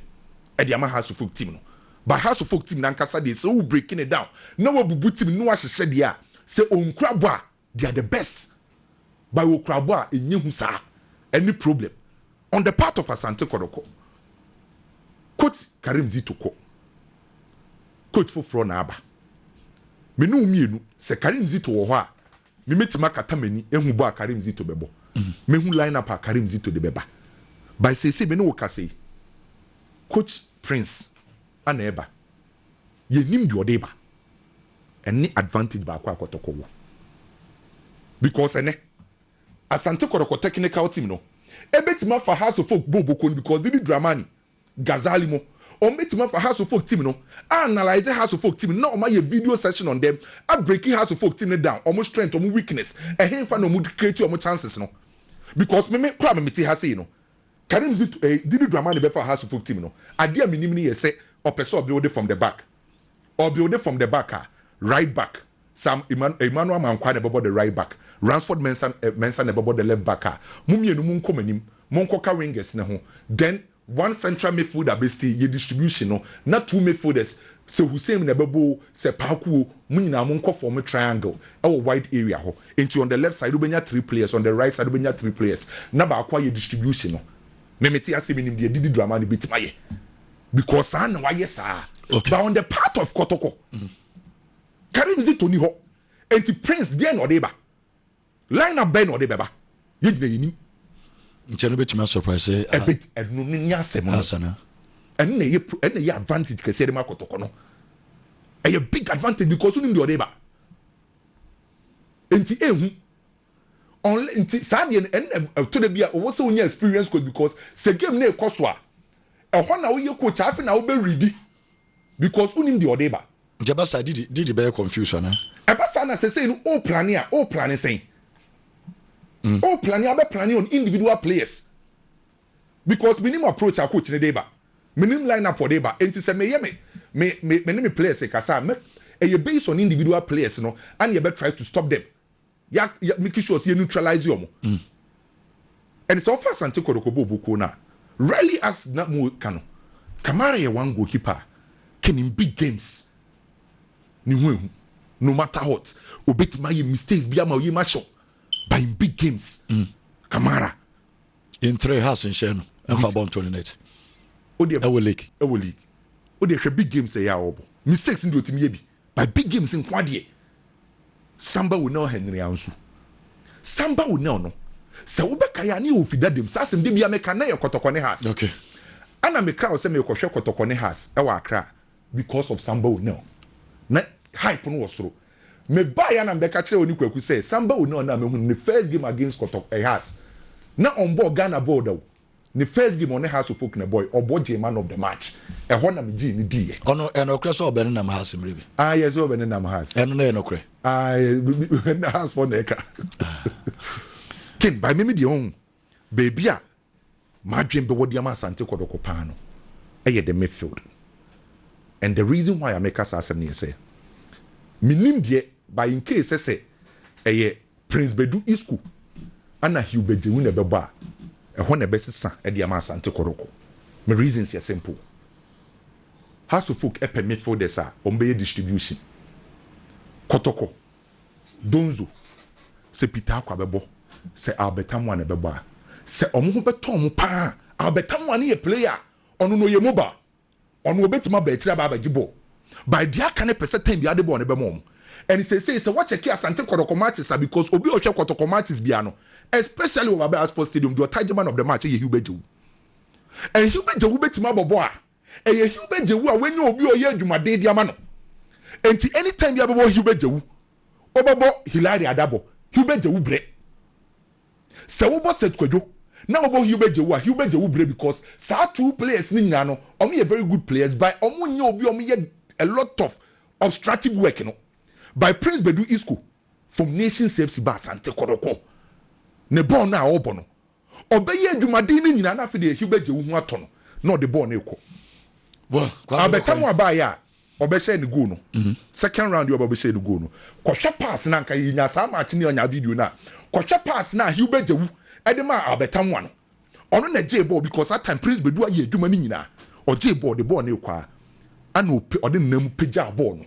de ama Hearts of Oak team no. But Hearts of Oak team no ankasa deɛ sɛ wo break no down na wabubu team no na wahyehyɛ deɛ a, sɛ ɔnkura bɔ a they are the best but wɔkura bɔ a ɛnyɛ hu saa. Ɛne problem on the part of Asante Kɔdɔkɔ. Coach Karim Zito kɔ, coach foforɔ na aba. Me ne wo mmienu, sɛ Karim Zito wɔ hɔ a, Mimetumi akata m'ani ahu bɔ a Karim Zito bɛbɔ. Mahu line-up a Karim Zito de bɛba. By seesei me ne wo kasa yi, Coach Prince na ɛreba. Yɛnnim deɛ ɔde reba. Ɛne advantage baako a Kɔtɔkɔ wɔ. Because ɛnnɛ, Asante Kɔtɔkɔ technical team no bɛtumi afa Hearts of Oak bɔ Oboko no because Didi Dramani Ghazali mu. Wɔbɛtumi afa House of Folk team no a analyse House of Folk team no na wɔn ayɛ video session on them a breaki House of Folk team no down, wɔn strength, wɔn weakness, ɛhenfa na wɔn creati wɔn chances no. Because me me koraa me mete ha sei no, Kareem Zit eh, Didi Dramani bɛfaa House of Folk team no, adeɛ a menim ne yɛ sɛ ɔpɛ sɛ ɔbuilde from the back. Ɔbuilde from the back a, right back. Sam Emmanuel Amankwah na ɛbɛbɔ the right back, Ransford Mensah Mensah na ɛbɛbɔ the left back a, mo mmienu monkɔ mo anim, monkɔka wingers no ho, then one central midfielder bɛstay, yɛ distribution no, na two midfielders, sɛ Hussein na ɛbɛbɔ o, sɛ Paku o, mo nyinaa monkɔ form triangle wɔ wide area hɔ, nti on the left side wobɛnya three players, on the right side wobɛnya three players, na baako ayɛ distribution no. Me mete ase menim deɛ Didi Dramani bɛtumi ayɛ because saa na wayɛ saa, but on the part of Kɔtɔkɔ, Kareem Zito ni hɔ enti Prince deɛn na ɔde reba? Line up bɛn na ɔde bɛba? Yɛn nyinaa yɛnim. Nkyɛ no bɛtumi asɔprase a. Ɛbɛ, ɛno no ni asɛm no. Ansa na. Ɛno na ɛyɛ, ɛno na ɛyɛ advantage kɛseɛ de ma kɔtɔkɔ no. Ɛyɛ big advantage because wonim deɛ ɔde reba. Nti ɛhu. Ɔnlɛ, nti saa deɛ no, ɛno na ɛtɔ da bi a ɔwɔ sɛ wonya experience coach because sɛ game no rekɔ so a, ɛhɔ na woyɛ coach a afei na wobɛredi. because wonim deɛ ɔde ba. Nti ɛba saa Didi Didi bɛyɛ confuse anaa? Ɛba saa na sɛsɛi no o plane a o plane sɛn? O plane abɛ plane on individual players because menim approach a coach no de ba, menim line up ɔde ba nti sɛ meyɛ me me me ne me players rekasa a mɛ ɛyɛ based on individual players no ɛna yɛbɛ try to stop them yɛ yɛ make sure sɛ yɛ neutralize wɔn ɛne sɛ ɔfa asante kɔdɔkɔ bɔ ɔbɔ kuo no a really as na mo ka no kamara yɛ one goalkeeper a can in big games ne ho ehu no matter what obetumi ayɛ mistakes bi ama oyi ma hyɛw but in big games mm. kamara in three house nhyɛ no ɛnfa bɔ ntɔ ne net ɛwɔ league ɛwɔ league o de ɛhwɛ big games ɛyɛ a ɔbɔ mistakes ndi otimi yɛ bi By big games nkoa deɛ. Samba wo nel Henry Ansu. Samba wo nel no, sɛ wobɛkae a, na yɛwɔ Fida dam. Saa asɛm da biara meka no, na ɛyɛ Kɔtɔkɔ ne Hearts. Ɛna mekra wo sɛ merekɔhwɛ Kɔtɔkɔ ne Hearts wɔ Accra because of Samba wo nel. Na hype no wɔ soro. Mebaeɛ a na mebɛka kyerɛ wo ne Kwaku sɛ, Samba wo nel no a mahu no, ne first game against Kɔtɔ, eh, Hearts, na ɔmbɔɔ Ghana bɔɔl da o. Ne first game ɔne Hearts of Oak na ɛbɔe, ɔbɔ gyee man of the match. Ɛhɔ na megyee no diiɛ. Ɔno, ɛyɛ nokorɛ sɛ ɔbɛnenam Hearts mmerɛ bi? Aah yes, sɛ ɔbɛnenam Hearts. Ɛno no yɛ nokorɛ? Aah, ɛnna Hearts foɔ na ɛka. Ken, by me me deɛ ɔhu, baabi a m'adwene bɛwɔ de ama Asante Kɔdɔkɔ paa no yɛ the midfield. And the reason why a meka saa asɛm no yɛ sɛ, mennim deɛ, but in case sɛ sɛ ɛyɛ Prince Badu Isku ana Hilbert Djewin na ɛbɛbɔ a, ɛhɔ na ɛbɛsesa de ama Asante Kɔrɔkɔ. Me reasons yɛ simple. Hearts of Folk pɛ midfielders a wɔbɛyɛ distribution. Kɔtɔkɔ, Donzo, sɛ Peter Akwa bɛbɔ, sɛ Albert Amoah na ɛbɛbɔ a, sɛ wɔn ho bɛtɔ wɔn pa ara a, Albert Amoah no yɛ player a, ɔno no ɔyɛ mobile. Ɔno ɔbɛtumi aba akyire aba abɛgye bɔɔl but deɛ aka no pɛ sɛ time biara de bɔɔl no bɛma wɔn and seesei sɛ wɔkyɛke Asante Kɔtɔkɔ matches a because obi a ɔhwɛ Kɔtɔkɔ matches biara no especially wɔ Baabi Sports Stadium deɛ ɔtaa gye man of the match yɛ Hubert Gyewu and Hubert Gyewu bɛtumi abɔ bɔɔl a ɛyɛ Hubert Gyewu a wanya obi a ɔyɛ adwumaden de ama no nti anytime biara bɛbɔ Hubert Gyewu ɔbɛbɔ Hilary Adabɔ Hubert Gyewu brɛ Sɛ wo bɔ Seth Kwadwo na wo bɔ Hilbert Jewu a, Hilbert Jewu brɛ because saa two players no nyinaa no ɔmo yɛ very good players by ɔmo nyɛ obi a ɔmo yɛ a lot of obstructive work no by Prince Badu Isco from Nations FC ba Asante Kɔdɔkɔ ne bɔɔl no a ɔɔbɔ no ɔbɛ yɛ adwumaden no nyinaa na afei deɛ Hilbert Jewu ho atɔ no na ɔde bɔɔl no rekɔ Well, Kwame Albert Amoah Nokore. baayɛ a Ɔbɛhyɛɛ no goal no second round yi a ɔba ɔbɛhyɛɛ no goal no. Kɔhwɛ pass no a anka yɛnyaa saa match no a ɔnyaa video no a. Kɔhwɛ pass no a Hilbert Djawu de maa Albert Anwa no. Ɔno na ɔgyee bɔɔl because that time Prince Bedu ayɛ adwuma no nyinaa. Ɔgyee bɔɔl, ɔde bɔɔl no rekɔ ara na ɔpe ɔde ne nan mu pagyaa bɔɔl no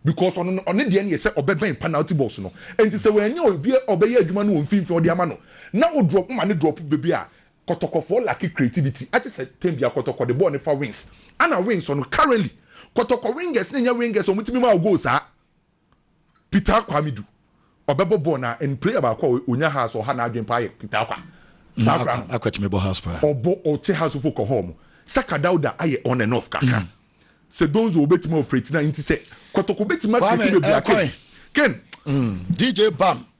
because ɔno no ɔne deɛ no yɛ sɛ ɔbɛbɛn penalty box no. Enti sɛ wanya obi a ɔbɛyɛ adwuma no wɔ mfimfini a ɔde ama no na wo drop woma no drop baabi a Kɔtɔkɔfoɔ lacke creativity agye sɛ tɛm biara Kɔtɔkɔ de bɔɔl no fa wings ana wings ɔno currently Kɔtɔkɔ wingers no nyɛ wingers a wɔtumi ma wo goal saa Peter Akwah Amidu ɔbɛbɔ bɔɔl no ara and player baako a ɔnya house ɔha n'adwene paa yɛ Peter Akwah saa koraa no Akwah tumi bɔ house paa ɔbɔ ɔkyɛ house fo kɔ home Saka Dauda ayɛ on and off kakra sɛ Donzo ɔbɛtumi operate no a nti sɛ Kɔtɔkɔ bɛtumi acreate baabi a Ken Ken DJ Bam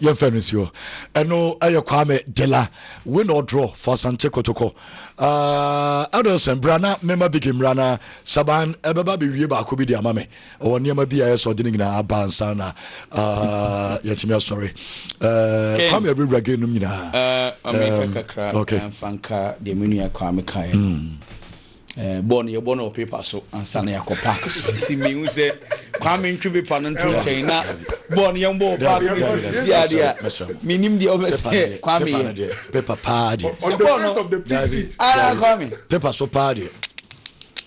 yɛmfɛ no nsi hɔ ɛno ɛyɛ kwame gyela win or draw for asante kotokɔ adelson bra na mema bigi mmra na saban ɛbɛba bɛwie baako bi de ama me ɔwɔ nneɛma bi a ɛyɛ sɛ ɔde no nyinaa aba ansa na yɛtumi asɔre kwame awurawura ge nom nyinaa okay. Eh, bɔɔl no yɛbɔ no wɔ paper so ansa na yɛakɔ park so nti mehu sɛ kwame ntwe paper no nto nkyɛn na bɔɔl no yɛmbɔ wɔ park no sisi adeɛ a menim deɛ wobɛ sɛ kwame yɛ paper paa deɛ sɛ bɔɔl no ah, kwame paper so paa deɛ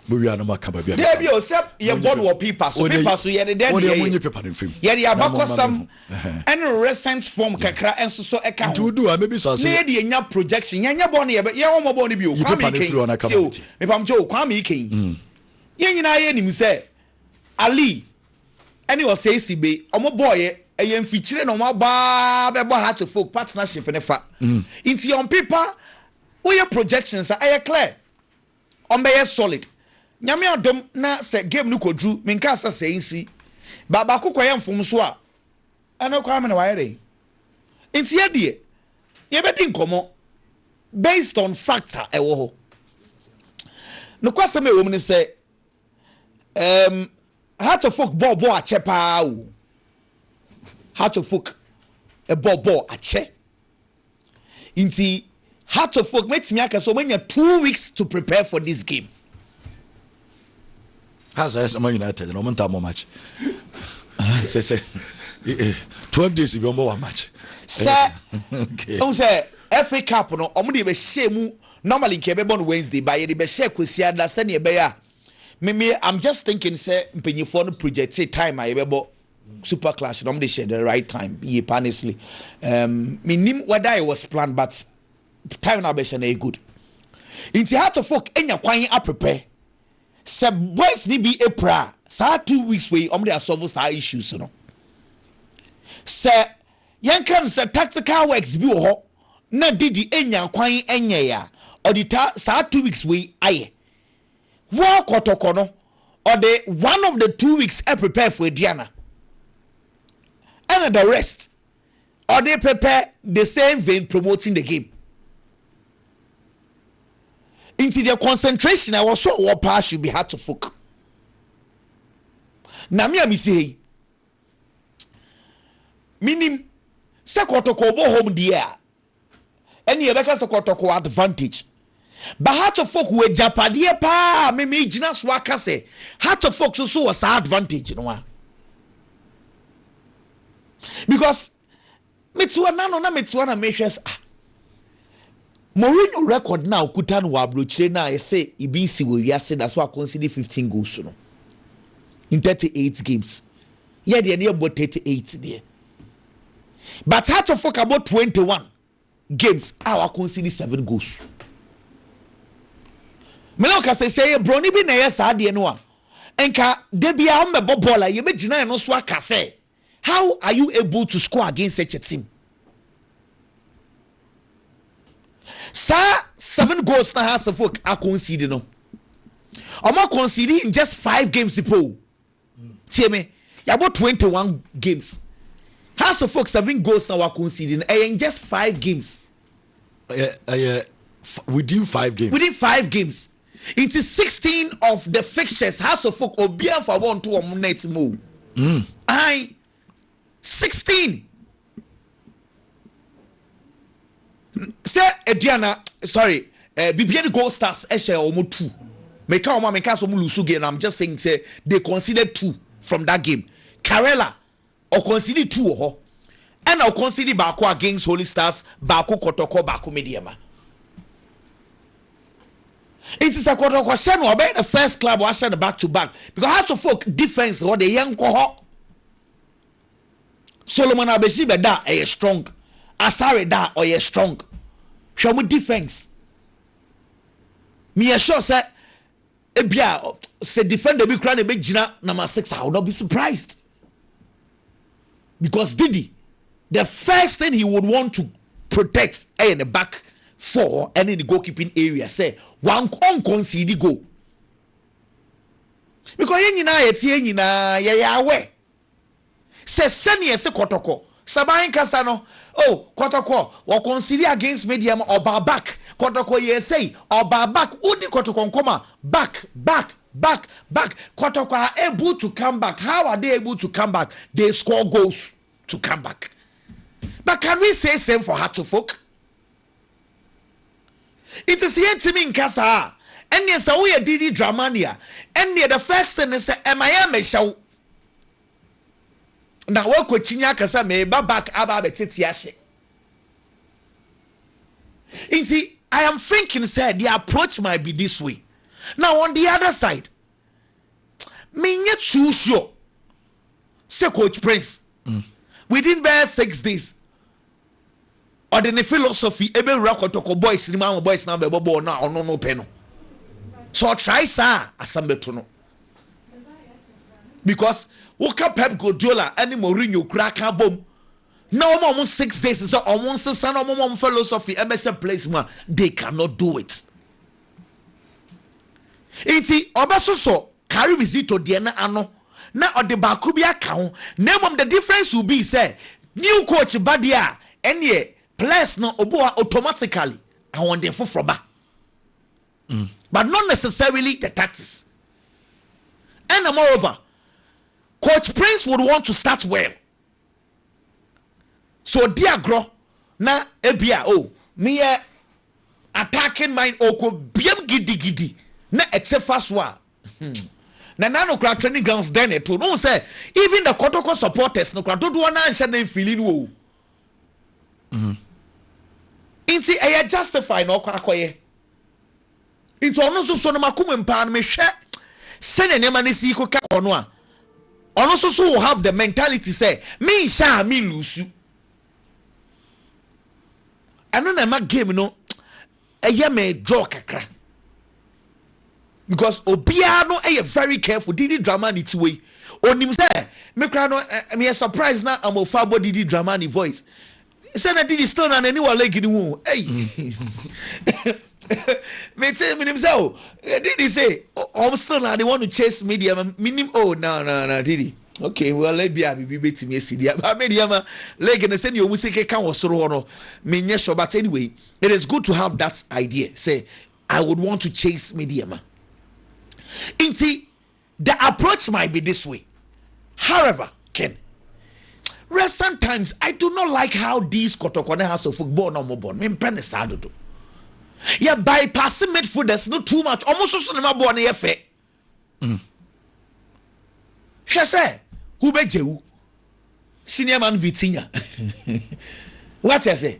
mowia no maka baabi a dabi o sɛ yɛbɔ no wɔ paper so paper so yɛde dɛn deɛ yɛde abakɔsɛm ɛne recent form kakra nso so ka ho, na yɛde anya projection, yɛnyɛ bɔne, yɛbɛyɛ wɔn bɔne bi o, Kwame Ikeyin, tie o, mepamkyɛ o, Kwame Ikeyin, mm. yɛn nyinaa yɛ nim sɛ, Ali, ɛne ɔsɛe si be, wɔn bɔɔyɛ, ɛyɛ mfikyire na wɔn abaa bɛbɔ ha to folk partnership ne fa, mm. nti yɛn pepa, woyɛ projections a ɛyɛ clear, Ɔmbɛyɛ solid Nyame adom na sɛ game no kɔ duru me nkaa sɛ sɛɛ nsi but baako kɔ yɛ mfomso a ɛno koraa me na wayɛ dɛn nti yɛ deɛ yɛ bɛ di nkɔmɔ based on fact a ɛwɔ hɔ nokwasɛm a ɛwɔ mu ne sɛ um, Heart of Oak bɔɔ bɔɔ akyɛ paa o Heart of Oak ɛbɔɔ bɔɔ akyɛ Nti Hearts of Oak mɛtumi aka sɛ wɔanya two weeks to prepare for this game. Hearts ayɛ sɛ ma United na wɔn ntaa mɔ match. Sɛ sɛ eh, eh, twelve days bi wɔn bɔ wa match. Sɛ ɛhu sɛ FA Cup no wɔn de bɛhyɛ mu normally nka ɛbɛbɔ no Wednesday ba yɛ de bɛhyɛ Kwesi Ada sɛnea ɛbɛyɛ a. Me me I'm just thinking sɛ mpanyinfoɔ no projectee time a yɛbɛbɔ super clash na wɔn de hyɛ the right time yie pa honestly um, me nim whether it was planned but time na abɛhyɛ na yɛ good nti heart of folk enya kwan aprepɛ sɛ boys ni bi apira a saa two weeks wei wɔn de asɔfo saa issues no sɛ yɛn kan sɛ tactical works bi wɔ hɔ na didi enya kwan ɛnyɛ ya ɔde ta saa two weeks wei ayɛ. Woa kɔtɔkɔ no ɔde one of the two weeks prepare for aduan a ɛna the rest ɔde pɛpɛ the same vein promoting the game nti the concentration a ɛwɔ so a ɔwɔ paa should be hard to folk na me a mesi ha yi menim sɛ kɔtɔkɔ ɔbɔ home deɛ a Ɛne yɛbɛka sɛ kɔtɔkɔ advantage. Ba Hartlefolk wɔ agyapadeɛ paa a me megyina so aka sɛ Hartlefolk so so wɔ saa advantage no a. Because me te hɔ na no na me te hɔ na mehwɛ sɛ ah Mourinho record no a okuta no wɔ aburokyire no a yɛsɛ ibi nsi wɔ wiase na so akonsidi 15 goals no in 38 games. Yɛ deɛ ne yɛmmɔ 38 deɛ. but Atofo ka bɔ twenty one games a wakonsidi seven goals mene wo kasa sɛ yɛ broni bi na ɛyɛ saa adeɛ no a nka da bi a ɔmmɛbɔ bɔɔl a yɛbɛgyina ɛno so aka sɛ how are you able to score against such a team saa seven goals na ha asefo akonsidi no ɔmo akonsidi in just five games po Tie me, yɛabɔ twenty one games, Hearts of Oak seven goals na wa concede no, ɛyɛ in just five games. Ɛyɛ ɛyɛ within five games. Within five games. Nti sixteen of the fixtures Hearts of Oak obiara nfa bɔ nto wɔn net mu o. Mm. Ahan. 16 sɛ aduana sorry eh, bibia ne gold stars ɛhyɛ wɔn two meka wɔn a meka sɛ wɔn lusu game na i'm just saying sɛ they considered two from that game karela ɔkɔnsidi two wɔ hɔ ɛna ɔkɔnsidi baako against holy stars baako kɔtɔkɔ baako mediama Nti sɛ kɔtɔ kɔ hyɛ no a ɔbɛyɛ the first club wahyɛ no back to back because heart of oak defence hɔ de yɛn nkɔ hɔ Solomon Abesi bɛ da ɛyɛ strong Asare da ɔyɛ strong hwɛ ɔmo defence meyɛ sure sɛ ebia sɛ defender bi kura na ebe gyina number six I will not be surprised. because Diddy the first thing he would want to protect ɛyɛ ne back four hɔ ɛne ne goalkeeping area sɛ wan ɔnconceede goal because yɛn nyinaa yɛte yɛn nyinaa yɛyɛ awɛ sɛ sɛnea ɛsɛ kɔtɔkɔ saban kasa no oh kɔtɔkɔ wɔ conceede against me deɛ ma ɔbaa back kɔtɔkɔ yɛ sɛyi ɔbaa back wodi kɔtɔkɔ nkɔm a back back Back back Kotoko are able to come back how are they able to come back they score goals to come back but can we say same for Hearts folk it is yɛ ntumi nka saa a ɛnneɛ sɛ woyɛ didi dramani a ɛnneɛ the first thing ne sɛ ɛma yɛ mɛhyɛ wo na woakɔkyinya aka sɛ meba back aba abɛtete ahyɛ Nti I am thinking sɛ their approach might be this way na on the other side menyɛ too sure sɛ coach prince mm. within bɛyɛ six days ɔde ne philosophy ɛbɛwura kɔtɔkɔ boys no mu ama boys no abɛbɔ bɔɔl no a ɔno no pɛ no sɛ ɔtrae saa a asɛm bɛto no because woka pep guardiola ne mourinho kura ka bom na wɔma wɔn six days sɛ wɔn nsesa na wɔn ma wɔn philosophy ɛbɛhyɛ place mu a they cannot do it nti ɔbɛsosɔ karim zito deɛ no ano na ɔde baako bi aka ho na mmom the difference will be sɛ new coach ba deɛ a ɛneɛ players no obi wa automatically ahoɔden foforɔ ba mm. but not necessarily the tactics ɛna moreover coach prince would want to start well So ɔdi agorɔ na ebia oh meyɛ attacking mind ɔkɔ biam gidigidi na ɛte fa so a hmm. Nana no kora training grounds dɛn na ɛto no sɛ even the Kotoko supporters no kora dodoɔ no anhyɛ na mfili no o. Mm-hmm. Nti ɛyɛ justify na ɔkɔ akɔyɛ. Nti ɔno nso so no m'akoma mu paa no mehwɛ sɛnea nneɛma no si rekeka kɔ no a, ɔno nso so will have the mentality sɛ menhyɛ a me lusu. Ɛno na ɛma game no ɛyɛ me draw kakra. Because obiara no ɛyɛ very careful didi drama ne tiwa yi. Onim sɛ me kora no meyɛ surprise na amofa abɔ didi drama ne voice. sɛ na didi still na n'ani wɔ lake no ho ei mete menim sɛ o didi se ɔm still na de wɔn chase media ma menim o oh, na na na didi okay well ebi a biribi betumi asi deɛ ba me deɛ ma lake no sɛdeɛ ɔmu si keka wɔ soro hɔ no menyɛ sure but anyway it is good to have that idea sɛ i would want to chase media ma nti The approach might be this way, however, Ken, Recent times I do not like how these kɔtɔkɔ ne house of folk bɔɔl na wɔn bɔ no, mempɛ ne saa dodo. Yɛ bypass midfielders no too much, wɔn soso ne ma bɔɔl no yɛ fɛ. Mm. Hwɛ sɛ wobɛgye wo senior man Vitinha. Wate ase?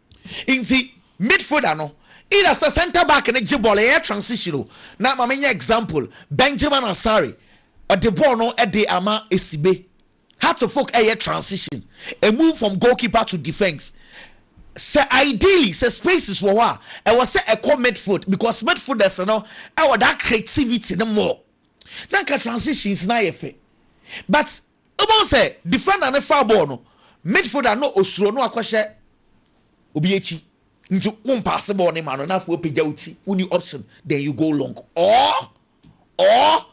Ntsi midfielder no either sɛ centre back no gye bɔɔl yɛyɛ transition o na ma menyɛ example Benjamin Asare ɔde bɔɔl no de ama Esibe Hearts folk ɛyɛ transition a move from goalkeeper to defence sɛ ideally sɛ spaces wɔ hɔ a ɛwɔ sɛ ɛkɔ midfield because midfielders no ɛwɔ that creativity no more na nka transitions no ayɛ fɛ but Wobɛhu sɛ defender no faa bɔɔl no, midfielder no osuro no akɔhyɛ obi akyi nti wompaase bɔɔl no ma no na afei wapagya wo ti, wonni option then you go long or or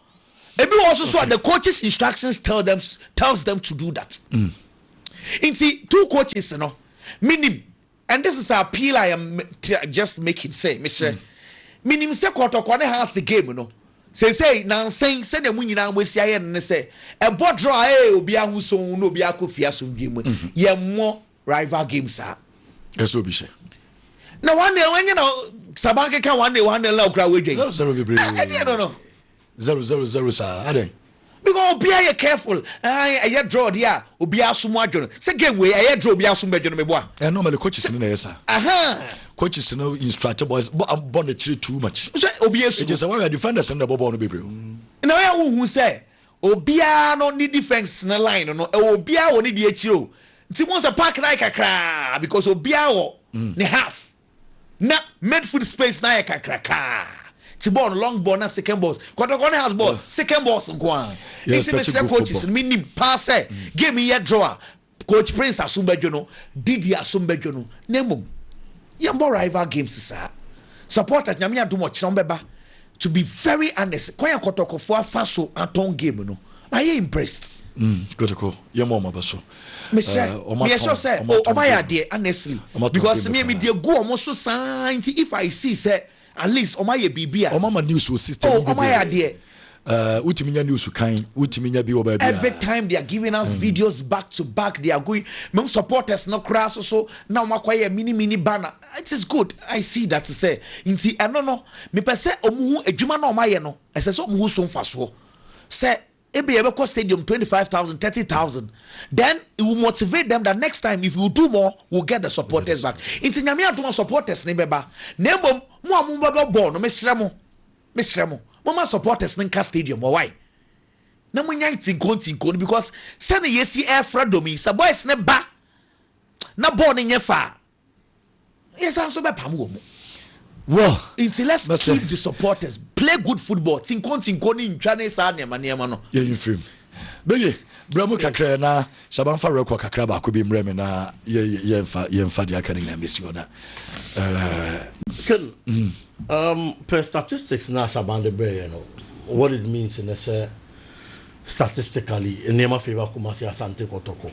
ebi wɔ hɔ so so a the coaches instructions tell them tells them to do that. Nti two coaches no menim And this is appeal I am just making sɛ mesrɛ menim sɛ kɔtɔkɔ ne ha ase game no seesei nansɛn sɛdeɛ mo nyinaa mo asi ayɛ no ne sɛ ɛbɔ drɔ a ee obi ahoso na obi akɔ fie asomdwe mu mhm. yɛ mmɔ rival game saa ɛsɛ obi hyɛ na wɔn na wɔnyɛ na saban keka wɔn na wɔn na okura wɔn adwa yi ɛdeɛ no no. zero zero zero saa adɛn. Because obiara yɛ careful ahan ɛyɛ draw deɛ a obiara aso mu adwo no sɛ game wei ɛyɛ draw obiara aso mu bɛdwo no meboa. Ɛɛ normally coaches no na ɛyɛ saa. Ahan. Coaches no instruct boys bɔ bɔ no akyire too much. Sɛ obi esu. Eti sɛ wɔyɛ defenders no na ɛbɔ bɔɔl no bebree o. Na wɔyɛ wohu sɛ obiara no ne defence no line no ɛwɔ obiara wɔ ne deɛ akyire o nti mo sɛ park no ayɛ kakraa because obiara wɔ ne half. na midfield space no ayɛ kakrakaa ti bɔɔl no long ball na second balls kɔtɔkɔ ne has ball second balls nko ara nti mesrɛ coaches no menim paa sɛ mm. game yɛ draw a coach prince asom bɛdwo no didi asom bɛdwo no na mmom yɛmbɔ rival games saa supporters nyame adom ɔkyerɛ wɔn bɛba To be very honest, kwan a kɔtɔkɔfoɔ afa so atɔn game no, mayɛ impressed. Mm, kɔtɔkɔ, yɛ mɔ ɔmo aba so. Mesrɛ, uh, meyɛ sure sɛ, oh, ɔmo ayɛ adeɛ, honestly. Because me, me deɛ gu ɔmo so saa, nti if I see sɛ, at least ɔmo ayɛ biribi a. Ɔmo ama news wɔ system bi de. Oh, ɔmo ayɛ adeɛ. Uh, wotumi nya news kan wotumi nya bi wɔ baabi every time they are giving us mm. videos back to back they are going mem supporters no koraa so so na wɔn akɔyɛ mini mini banner it is good i see that sɛ nti ɛno no Mepɛ sɛ wɔhu adwuma no a wɔayɛ no, ɛsɛ sɛ wɔhu so mfasoɔ. Sɛ ebia yɛbɛkɔ stadium twenty five thousand, thirty thousand, then it will motivate them that next time if you do more, we'll get the supporters back. Nti nyame adom a supporters no bɛba. Na mmom mo a mobɛbɔ bɔɔl no, mesrɛ mo, mesrɛ mo, momma supporters no nka stadium hɔ wae. Na monyae ntinko ntinko no because sɛnea yɛsi ɛrefra dɔm yi, sɛ boys no ba na bɔɔl no nyɛ fa a, Yɛsan nso bɛpam wɔn. Well. Nti let's Bɛsɛ. keep the supporters, play good football, tinko ntinko ne ntwa ne saa nneɛma nneɛma no. Yɛyi mfiri mu. Beye, brɛ mu kakra ɛ na Shaba mfa record kakra baako bi mmerɛ me na yɛ yɛ yɛmfa yɛmfa deɛ aka no nyinaa mmɛsi hɔ na ɛɛ. Ken, um, pɛ statistics na Shaban de brɛ yɛ no, what it means ne sɛ statistically nneɛma favour Kumasi, Asante, Kɔtɔkɔ.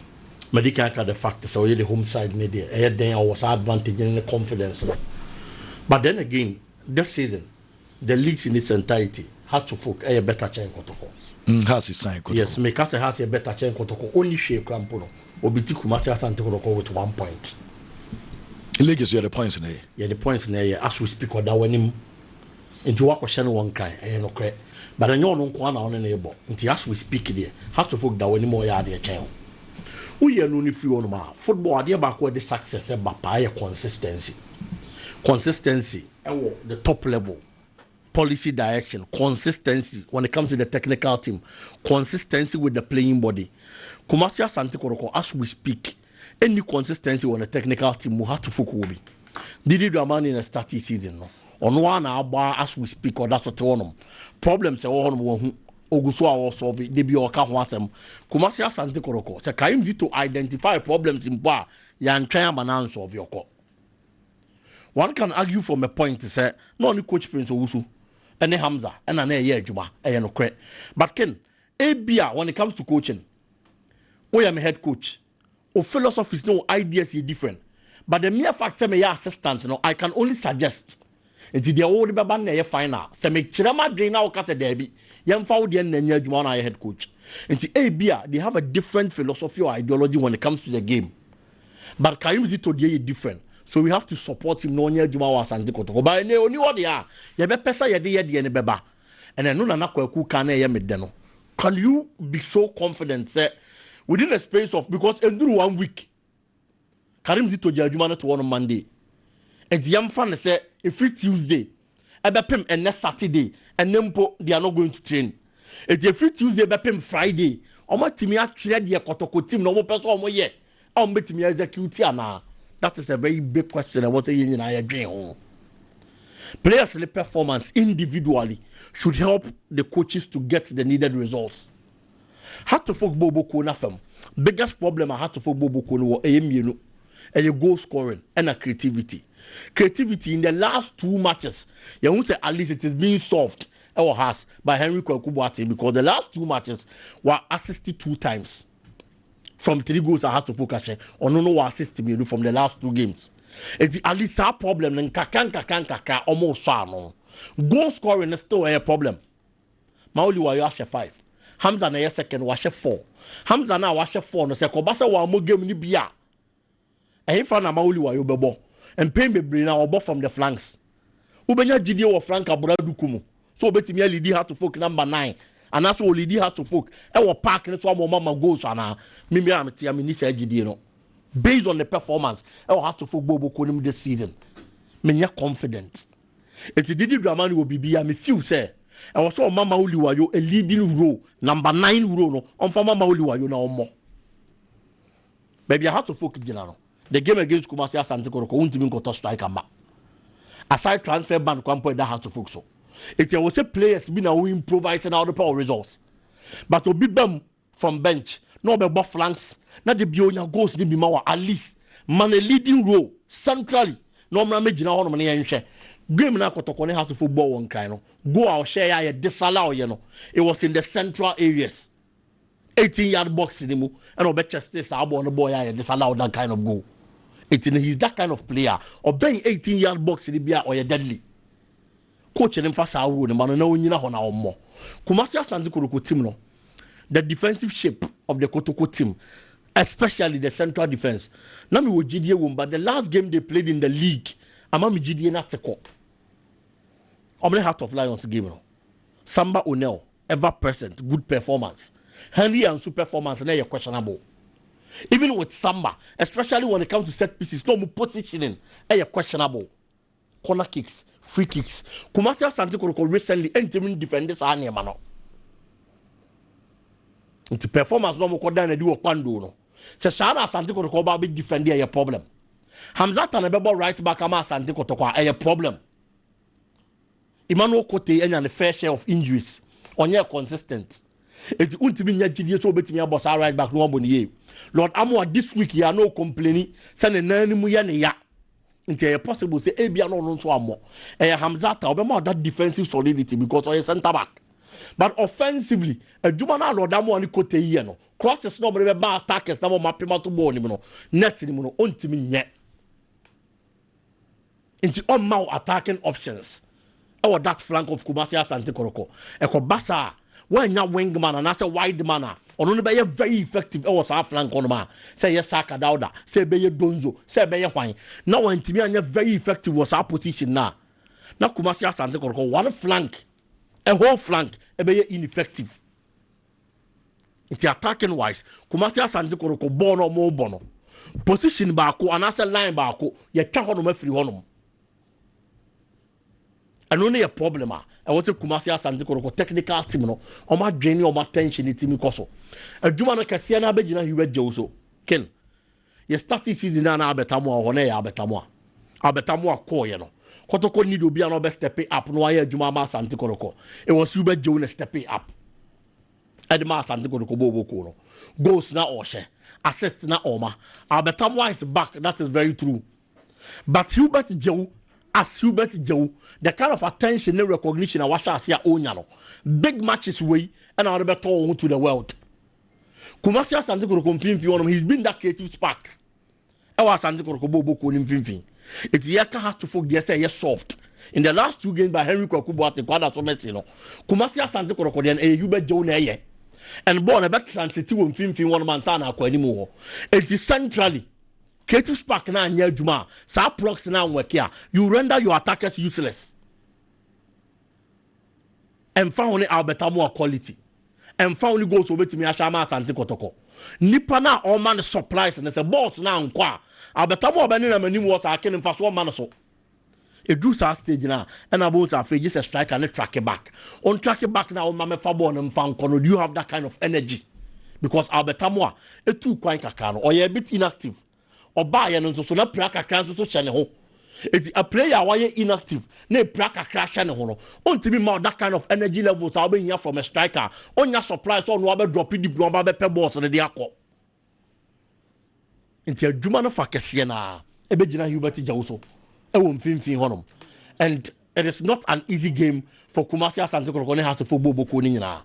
Madi kan aka the fact sɛ ɔyɛ the home side ne deɛ ɛyɛ den a ɔwɔ saa advantage ne ne confidence no but then again this season the leagues in its entirety Hearts of Oak ɛyɛ better kyɛn Kɔtɔkɔ. Mm, Hearts san Kɔtɔkɔ. Yes, meka sɛ Hearts yɛ better kyɛn Kɔtɔkɔ. Ɔnni hwee kura mpo no, obi ti Kumasi Asante Kɔtɔkɔ with one point. League so yɛde points na ɛyɛ. Yɛde points na ɛyɛ as we speak ɔda w'anim Nti wakɔhyɛ no wɔ nkran ɛyɛ nokorɛ but ɛnyɛ ɔno nkoaa na ɔne no rebɔ nti as we speak deɛ heart of oak da w'anim a ɔyɛ adeɛ kyɛn wo woyɛ no no firi hɔnom a football adeɛ baako a ɛde success ɛba paa yɛ consistency consistency ɛwɔ the top level policy direction consistency when it comes to the technical team consistency with the playing body Kumasi Asante Kɔrɔkɔ as we speak. nni consistency wɔ ne technical team mu, Hato Foku wɔ bi. Didi Dramani na startee season no, ɔno ara na abɔ a as we speak ɔda so te hɔnom. Problems a ɛwɔ hɔnom wahu, ɔgu so a ɔresolve, da bi a ɔka ho asɛm. Kumasi Asante Kɔrɔkɔ, sɛ Kaim Zito identify problems mpo a, yɛantwɛn ama no ansolve ɔkɔ. One can argue from a point sɛ na ɔne coach Prince Owusu ne Hamza ɛna na ɛyɛ adwuma, ɛyɛ nokorɛ. But Ken, ebia when it comes to coaching, Woyɛ me head coach. Wo philosophies ne wo ideas yɛ different. But the mere fact sɛ meyɛ assistant no, I can only suggest. Nti deɛ wode bɛba no na ɛyɛ final. Sɛ mekyerɛ m'adwene na woka sɛ daabi, yɛmfa wo deɛ no na ɛnyɛ adwuma, wo na ayɛ head coach. Nti ebia they have a different philosophy or ideology when it comes to the game. But Karim Zito deɛ yɛ different. So we have to support him na ɔnyɛ adwuma wɔ Asante Kotoko. But ɛnɛ ɔni hɔ deɛ a, yɛbɛpɛ sɛ yɛde yɛ deɛ no bɛba. Ɛna ɛno Nana Kwaku ka na ɛyɛ me dɛ no. Can you be so confident sɛ within a space of because ɛnduru one week Karim de togya adwuma no to hɔ no Monday nti yɛmfa no sɛ ɛfiri Tuesday ɛbɛpem ɛnɛ Saturday ɛnɛ mpo they are not going to train ɛti ɛfiri Tuesday bɛpem Friday wɔatumi atwerɛ deɛ kɔtɔkɔ tim na wɔpɛ sɛ wɔyɛ a wɔbɛtumi execute anaa? That is a very big question ɛwɔ sɛ yɛn nyinaa yɛdwen ho. Players ne performance individually should help the coaches to get the needed results. Hatofok Bobo kuo no afam biggest problem a Hatofok Bobo kuo no wɔ ɛyɛ mmienu ɛyɛ goal scoring ɛna creativity. Creativity in the last two matches yɛn ho sɛ at least it is being solved ɛwɔ has by Henry Kwaku Boateng because the last two matches were assisted two times. from three goals I had to focus eh, on no no assist me from the last two games. It's at least our problem and kakan kakan kakan almost no. Goal scoring is still a problem. Mauli wa yo ashe five. Hamza na second wa ashe four. Hamza na wa ashe four no se ko ba se wa mo game ni bia. Ɛhefa na Maoli Wayo bɛbɔ? Mpɛn bebree no, ɔbɔ from the flanks. Wobɛnya gyidie wɔ flank abura du ko mu sɛ ɔbɛtumi alidi Hearts of Oak number nine anaasɛ ɔlidi Hearts of Oak ɛwɔ park no so ama ɔmama goals anaa? Mimi a metea menni saa gyidie no based on the performance ɛwɔ Hearts of Oak bɔɔlbɔ kuo no mu this season. Menyɛ confident. Enti Didi Dramani wɔ biribi a me feel sɛ ɛwɔ sɛ ɔma Maoli Wayo a leading role, number nine role no ɔmfa ma Maoli Wayo na ɔmmɔ. Baabi a Hearts of Oak gyina no, the game against Kumasi Asante Kotoko wontumi nkɔtɔ striker mma. Aside transfer ban kwan mpo a ɛda Hearts of Oak so. Eti ɛwɔ sɛ players bi na wo improvise na wode pɛ wo results. But obi ba mu from bench na ɔbɛbɔ flanks na da bi onya goals no bi ma wɔ at least ma no a leading role centrally na ɔmmra mmɛgyina hɔnom na yɛnhwɛ. Game no a Kotoko ne Hearts of Oak bɔɔ wɔ Nkran no, goal a ɔhyɛeɛ a yɛde sala ɔyɛ no, it was in the central areas. 18 yard box ni mu ɛna ɔbɛ cheste saa bɔɔl no bɔɔl yɛ a yɛ disallow that kind of goal eti no he is that kind of player ɔbɛn 18 yard box ni bi a ɔyɛ deadly coach no nfa saa rule no ma no na onyina hɔ na ɔmmɔ kumasi asante kotoko team no the defensive shape of the kotoko team especially the central defense na mi wɔ gyidie wɔm but the last game they played in the league ama mi gyidie na te kɔ ɔmo ne heart of lions game no samba onel ever present good performance Henry Ansu performance no yɛ questionable even with Samba especially when it comes to set pieces na ɔmo positioning yɛ questionable corner kicks free kicks Kumasi Asante Kotoko recently ɛntumi ndefend saa nneɛma no nti performance na ɔmo kɔ dan na di wɔ Kpando no sɛ saa na Asante Kotoko ɔba bɛ defend ɛyɛ problem Hamzata na ɛbɛbɔ right back ama Asante Kotoko a ɛyɛ problem. Emmanuel Kotei anya ne fair share of injuries. Ɔnyɛɛ consistent. Enti wontumi nya gyidie sɛ obetumi abɔ saa right back no wabɔ ne yie. Lord Amoah this week yi a na ɔcomplaini sɛ ne nan no mu yɛ ne ya. Nti ɛyɛ possible sɛ ebia na ɔno nso ammɔ. Ɛyɛ Hamzat a ɔbɛma that defensive solidity because ɔyɛ centre back. But offensively, adwuma no a Lord Amoah ne Kotei yɛ no, crosses na wɔde bɛba attackers na wɔapem ato bɔɔl no mu no, net no mu no, ɔntumi nyɛ. Nti ɔmma wo attacking options wɔ that flank of Kumasi Asante Koroko. Ɛkɔba saa a, woannya wing man anaasɛ wide man a ɔno no bɛyɛ very effective wɔ saa flank hɔ nom a, sɛ ɛyɛ Saka Dauda, sɛ ɛbɛyɛ Donzo, sɛ ɛbɛyɛ hwan, na wantumi anyɛ very effective wɔ saa position no a, na Kumasi Asante Koroko one flank, a whole flank, ɛbɛyɛ ineffective. nti attacking wise kumasi asante koroko bɔɔl na ɔmo bɔ no position baako anaasɛ line baako yɛtwa hɔnom afiri hɔnom ɛno ne yɛ problem a ɛwɔ sɛ kumasi asante koroko technical team no ɔmo adwene ne ɔmo attention ne timi kɔ so adwuma no kɛseɛ no abɛgyina hiwa gyew so ken Yɛ starting season no a na Albert Amoah wɔ hɔ, na ɛyɛ Albert Amoah. Albert Amoah kɔɔeɛ no, Kɔtɔkɔ need obi a na ɔbɛ stepe up na wayɛ adwuma ama Asante Kɔtɔkɔ. It was Hubert Djew na stepe up ɛde ma Asante Kɔtɔkɔ bɔɔ Boko no. Goals na ɔhyɛ, assists na ɔma. Albert Amoah is back, that is very true. But Hubert Djew as Hubert Djew, the kind of attention ne recognition a wahyɛ ase a ɔnya no, big matches wei ɛna wɔde bɛtɔ wɔn ho to the world. Kumasi Asante Kotoko mfimfini hɔ nom, he's been that creative spark. Ɛwɔ Asante Kotoko bɔ obokuo no mfimfini. Eti yɛ ka ha to folk deɛ sɛ ɛyɛ soft. In the last two games by Henry Kwaku Boate Kwada so Messi no, Kumasi Asante Kotoko deɛ no ɛyɛ yu bɛ gyew na ɛyɛ. And ball na ɛbɛ transit wɔ mfimfini hɔ nom ansa na akɔ anim hɔ. Eti centrally, creative spark na anyɛ adwuma a, saa plugs na anwɛke a, you render your attackers useless. Ɛmfa ho ne Albert Amoah quality, ɛmfa ho ne goals a obetumi ahyɛ ama Asante Kɔtɔkɔ, nipa no a ɔma no supplies no, sɛ balls no ankɔ a, Albert Amoah bɛnenam anim hɔ saa, ken, mfaso mma no so. Ɛduru saa stage no a, ɛna wobɛhu sɛ afei gye sɛ striker no tracke back. Ɔntracke back na woma mɛfa ball no mfa nkɔ no, do you have that kind of energy? Because Albert Amoah, ɛtuu kwan kakra no, ɔyɛɛ a bit inactive. ɔbaeɛ no nso so na pira kakra nso so hyɛ ne ho. Eti a player a wayɛ inactive na epira kakra hyɛ ne ho no, ontumi mma wo that kind of energy levels a wobɛhia from a striker a onnya supply sɛ ɔno abɛ drop deep na ɔba abɛpɛ balls no de akɔ. Nti adwuma no fa kɛseɛ no ara ɛbɛgyina Hubert Gyawu so ɛwɔ mfimfini hɔnom and It is not an easy game for Kumasi Asante Kotoko ne Haso fo bɔ bɔkuo no nyinaa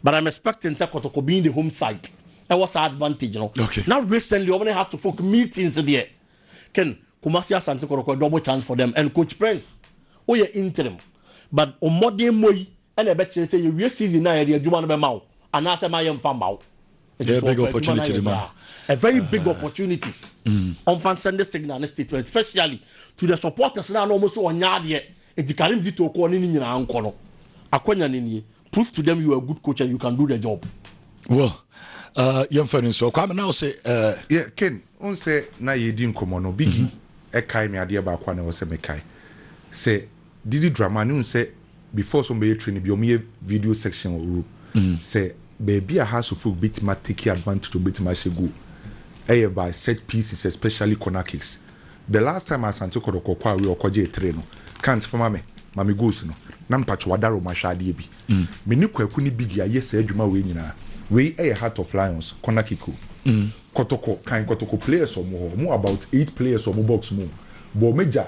but I'm expecting sɛ Kotoko being the home side ɛwɔ saa advantage no. Okay. Na recently wɔn ne Hato folk meetings deɛ ken Kumasi Asante Kotoko a double chance for them and Coach Prince woyɛ interim but mmɔden mmɔ yi ɛna ɛbɛkyerɛ sɛ yɛwie season no a yɛde adwuma no bɛma wo anaasɛ ma yɛmfa mma wo. very big opportunity de ma a very big uh, opportunity ɔmfa mm. send signal ne statement especially to the supporters na ɔmo so ɔnya adeɛ nti karim di to kɔ ne ne nyinaa nkɔ no akɔnya ne nie prove to them you are a good coach and you can do the job. well uh, yɛmfa no nso kwame na wo se uh, yeah, ken wo sɛ na yɛdi nkɔmmɔ no bigi mm-hmm. ɛkae me adeɛ baako a na ɛwɔ sɛ mekae sɛ Didi drama no nsɛ before sɛ ɔmo bɛyɛ training bia ɔmo yɛ video section wɔ room sɛ baabi a house folk bɛtumi a take advantage ɔmo bɛtumi ahyɛ goal ɛyɛ by set pieces especially corner kicks the last time Asante kɔtɔkɔ kɔ away ɔkɔ gyee three no Kant fa ma me ma me goals no na mpakyɛw adare ɔmo ahwɛ adeɛ bi me ne Kwaku ne Biggie ayɛ saa adwuma wei nyinaa wei ɛyɛ heart of lions corner kick o kɔtɔkɔ kan kɔtɔkɔ players ɔmo hɔ ɔmo about eight players ɔmo box mu o bɔɔ m'agya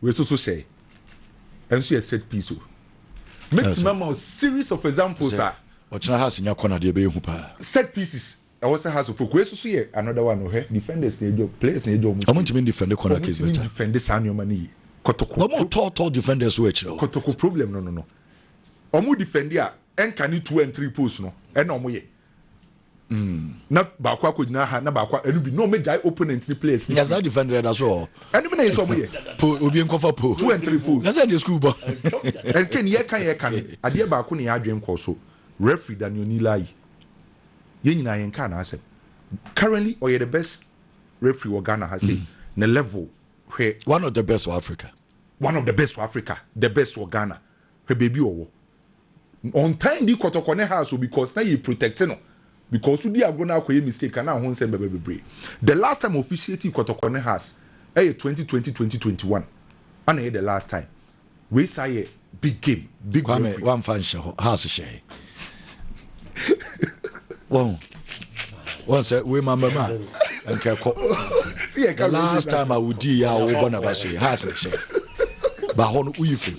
Wei so so hyɛe. Ɛno so yɛ set piece o. Mɛtumi ama wo series of examples a. Ɔkyena has nya kɔ no adeɛ bɛyɛ hu paa. Set pieces ɛwɔ sɛ has of folk. Wei so so yɛ another one o. Hwɛ defenders na ɛgya o, players na ɛgya o. Ɔmo ntumi ndefɛnde corner kick better. Ɔmo ntumi ndefɛnde saa nnoɔma no yie. Kɔtɔkɔ. Ɔmo tɔ tɔ defenders so ɛkyerɛ o. Kɔtɔkɔ problem no no no. Ɔmo defɛnde a ɛnka ne two and three post no ɛna ɔmo yɛ. Mm. na baako akɔgyina ha na baako ɛno bi na ɔmo gyae opponent ne players ne fi. nyasa defender ɛda so wɔ. ɛnum na yɛ sɛ ɔmo yɛ. po obi nkɔfa po. two and three po. nyasa de school bɔ. ɛnke ne yɛka yɛka no adeɛ baako ne yɛ adwene kɔ so referee Daniel Nilayi yɛn nyinaa yɛn kaa n'asɛm currently ɔyɛ the best referee wɔ Ghana ha sɛ mm. ne level hwɛ. one of the best wɔ Africa. one of the best wɔ Africa the best wɔ Ghana Hwɛ baabi a ɔwɔ. Ɔntaa ndi kɔtɔkɔ ne house o because na yɛ protect no because wodi agorɔ na akɔyɛ mistake a na ho nsɛm bɛba bebree. The last time officiate kɔtɔkɔ ne house ɛyɛ twenty twenty twenty twenty one ɛna ɛyɛ the last time. Wei saa yɛ big game big referee. Kwame wamfa nhyɛ hɔ house hyɛ he. Wɔn wɔn sɛ wei ma mbɛma nkɛkɔ. The last time a wodi yɛ a wɔbɔ na ba so yɛ house hyɛ ba hɔ no woyi fam.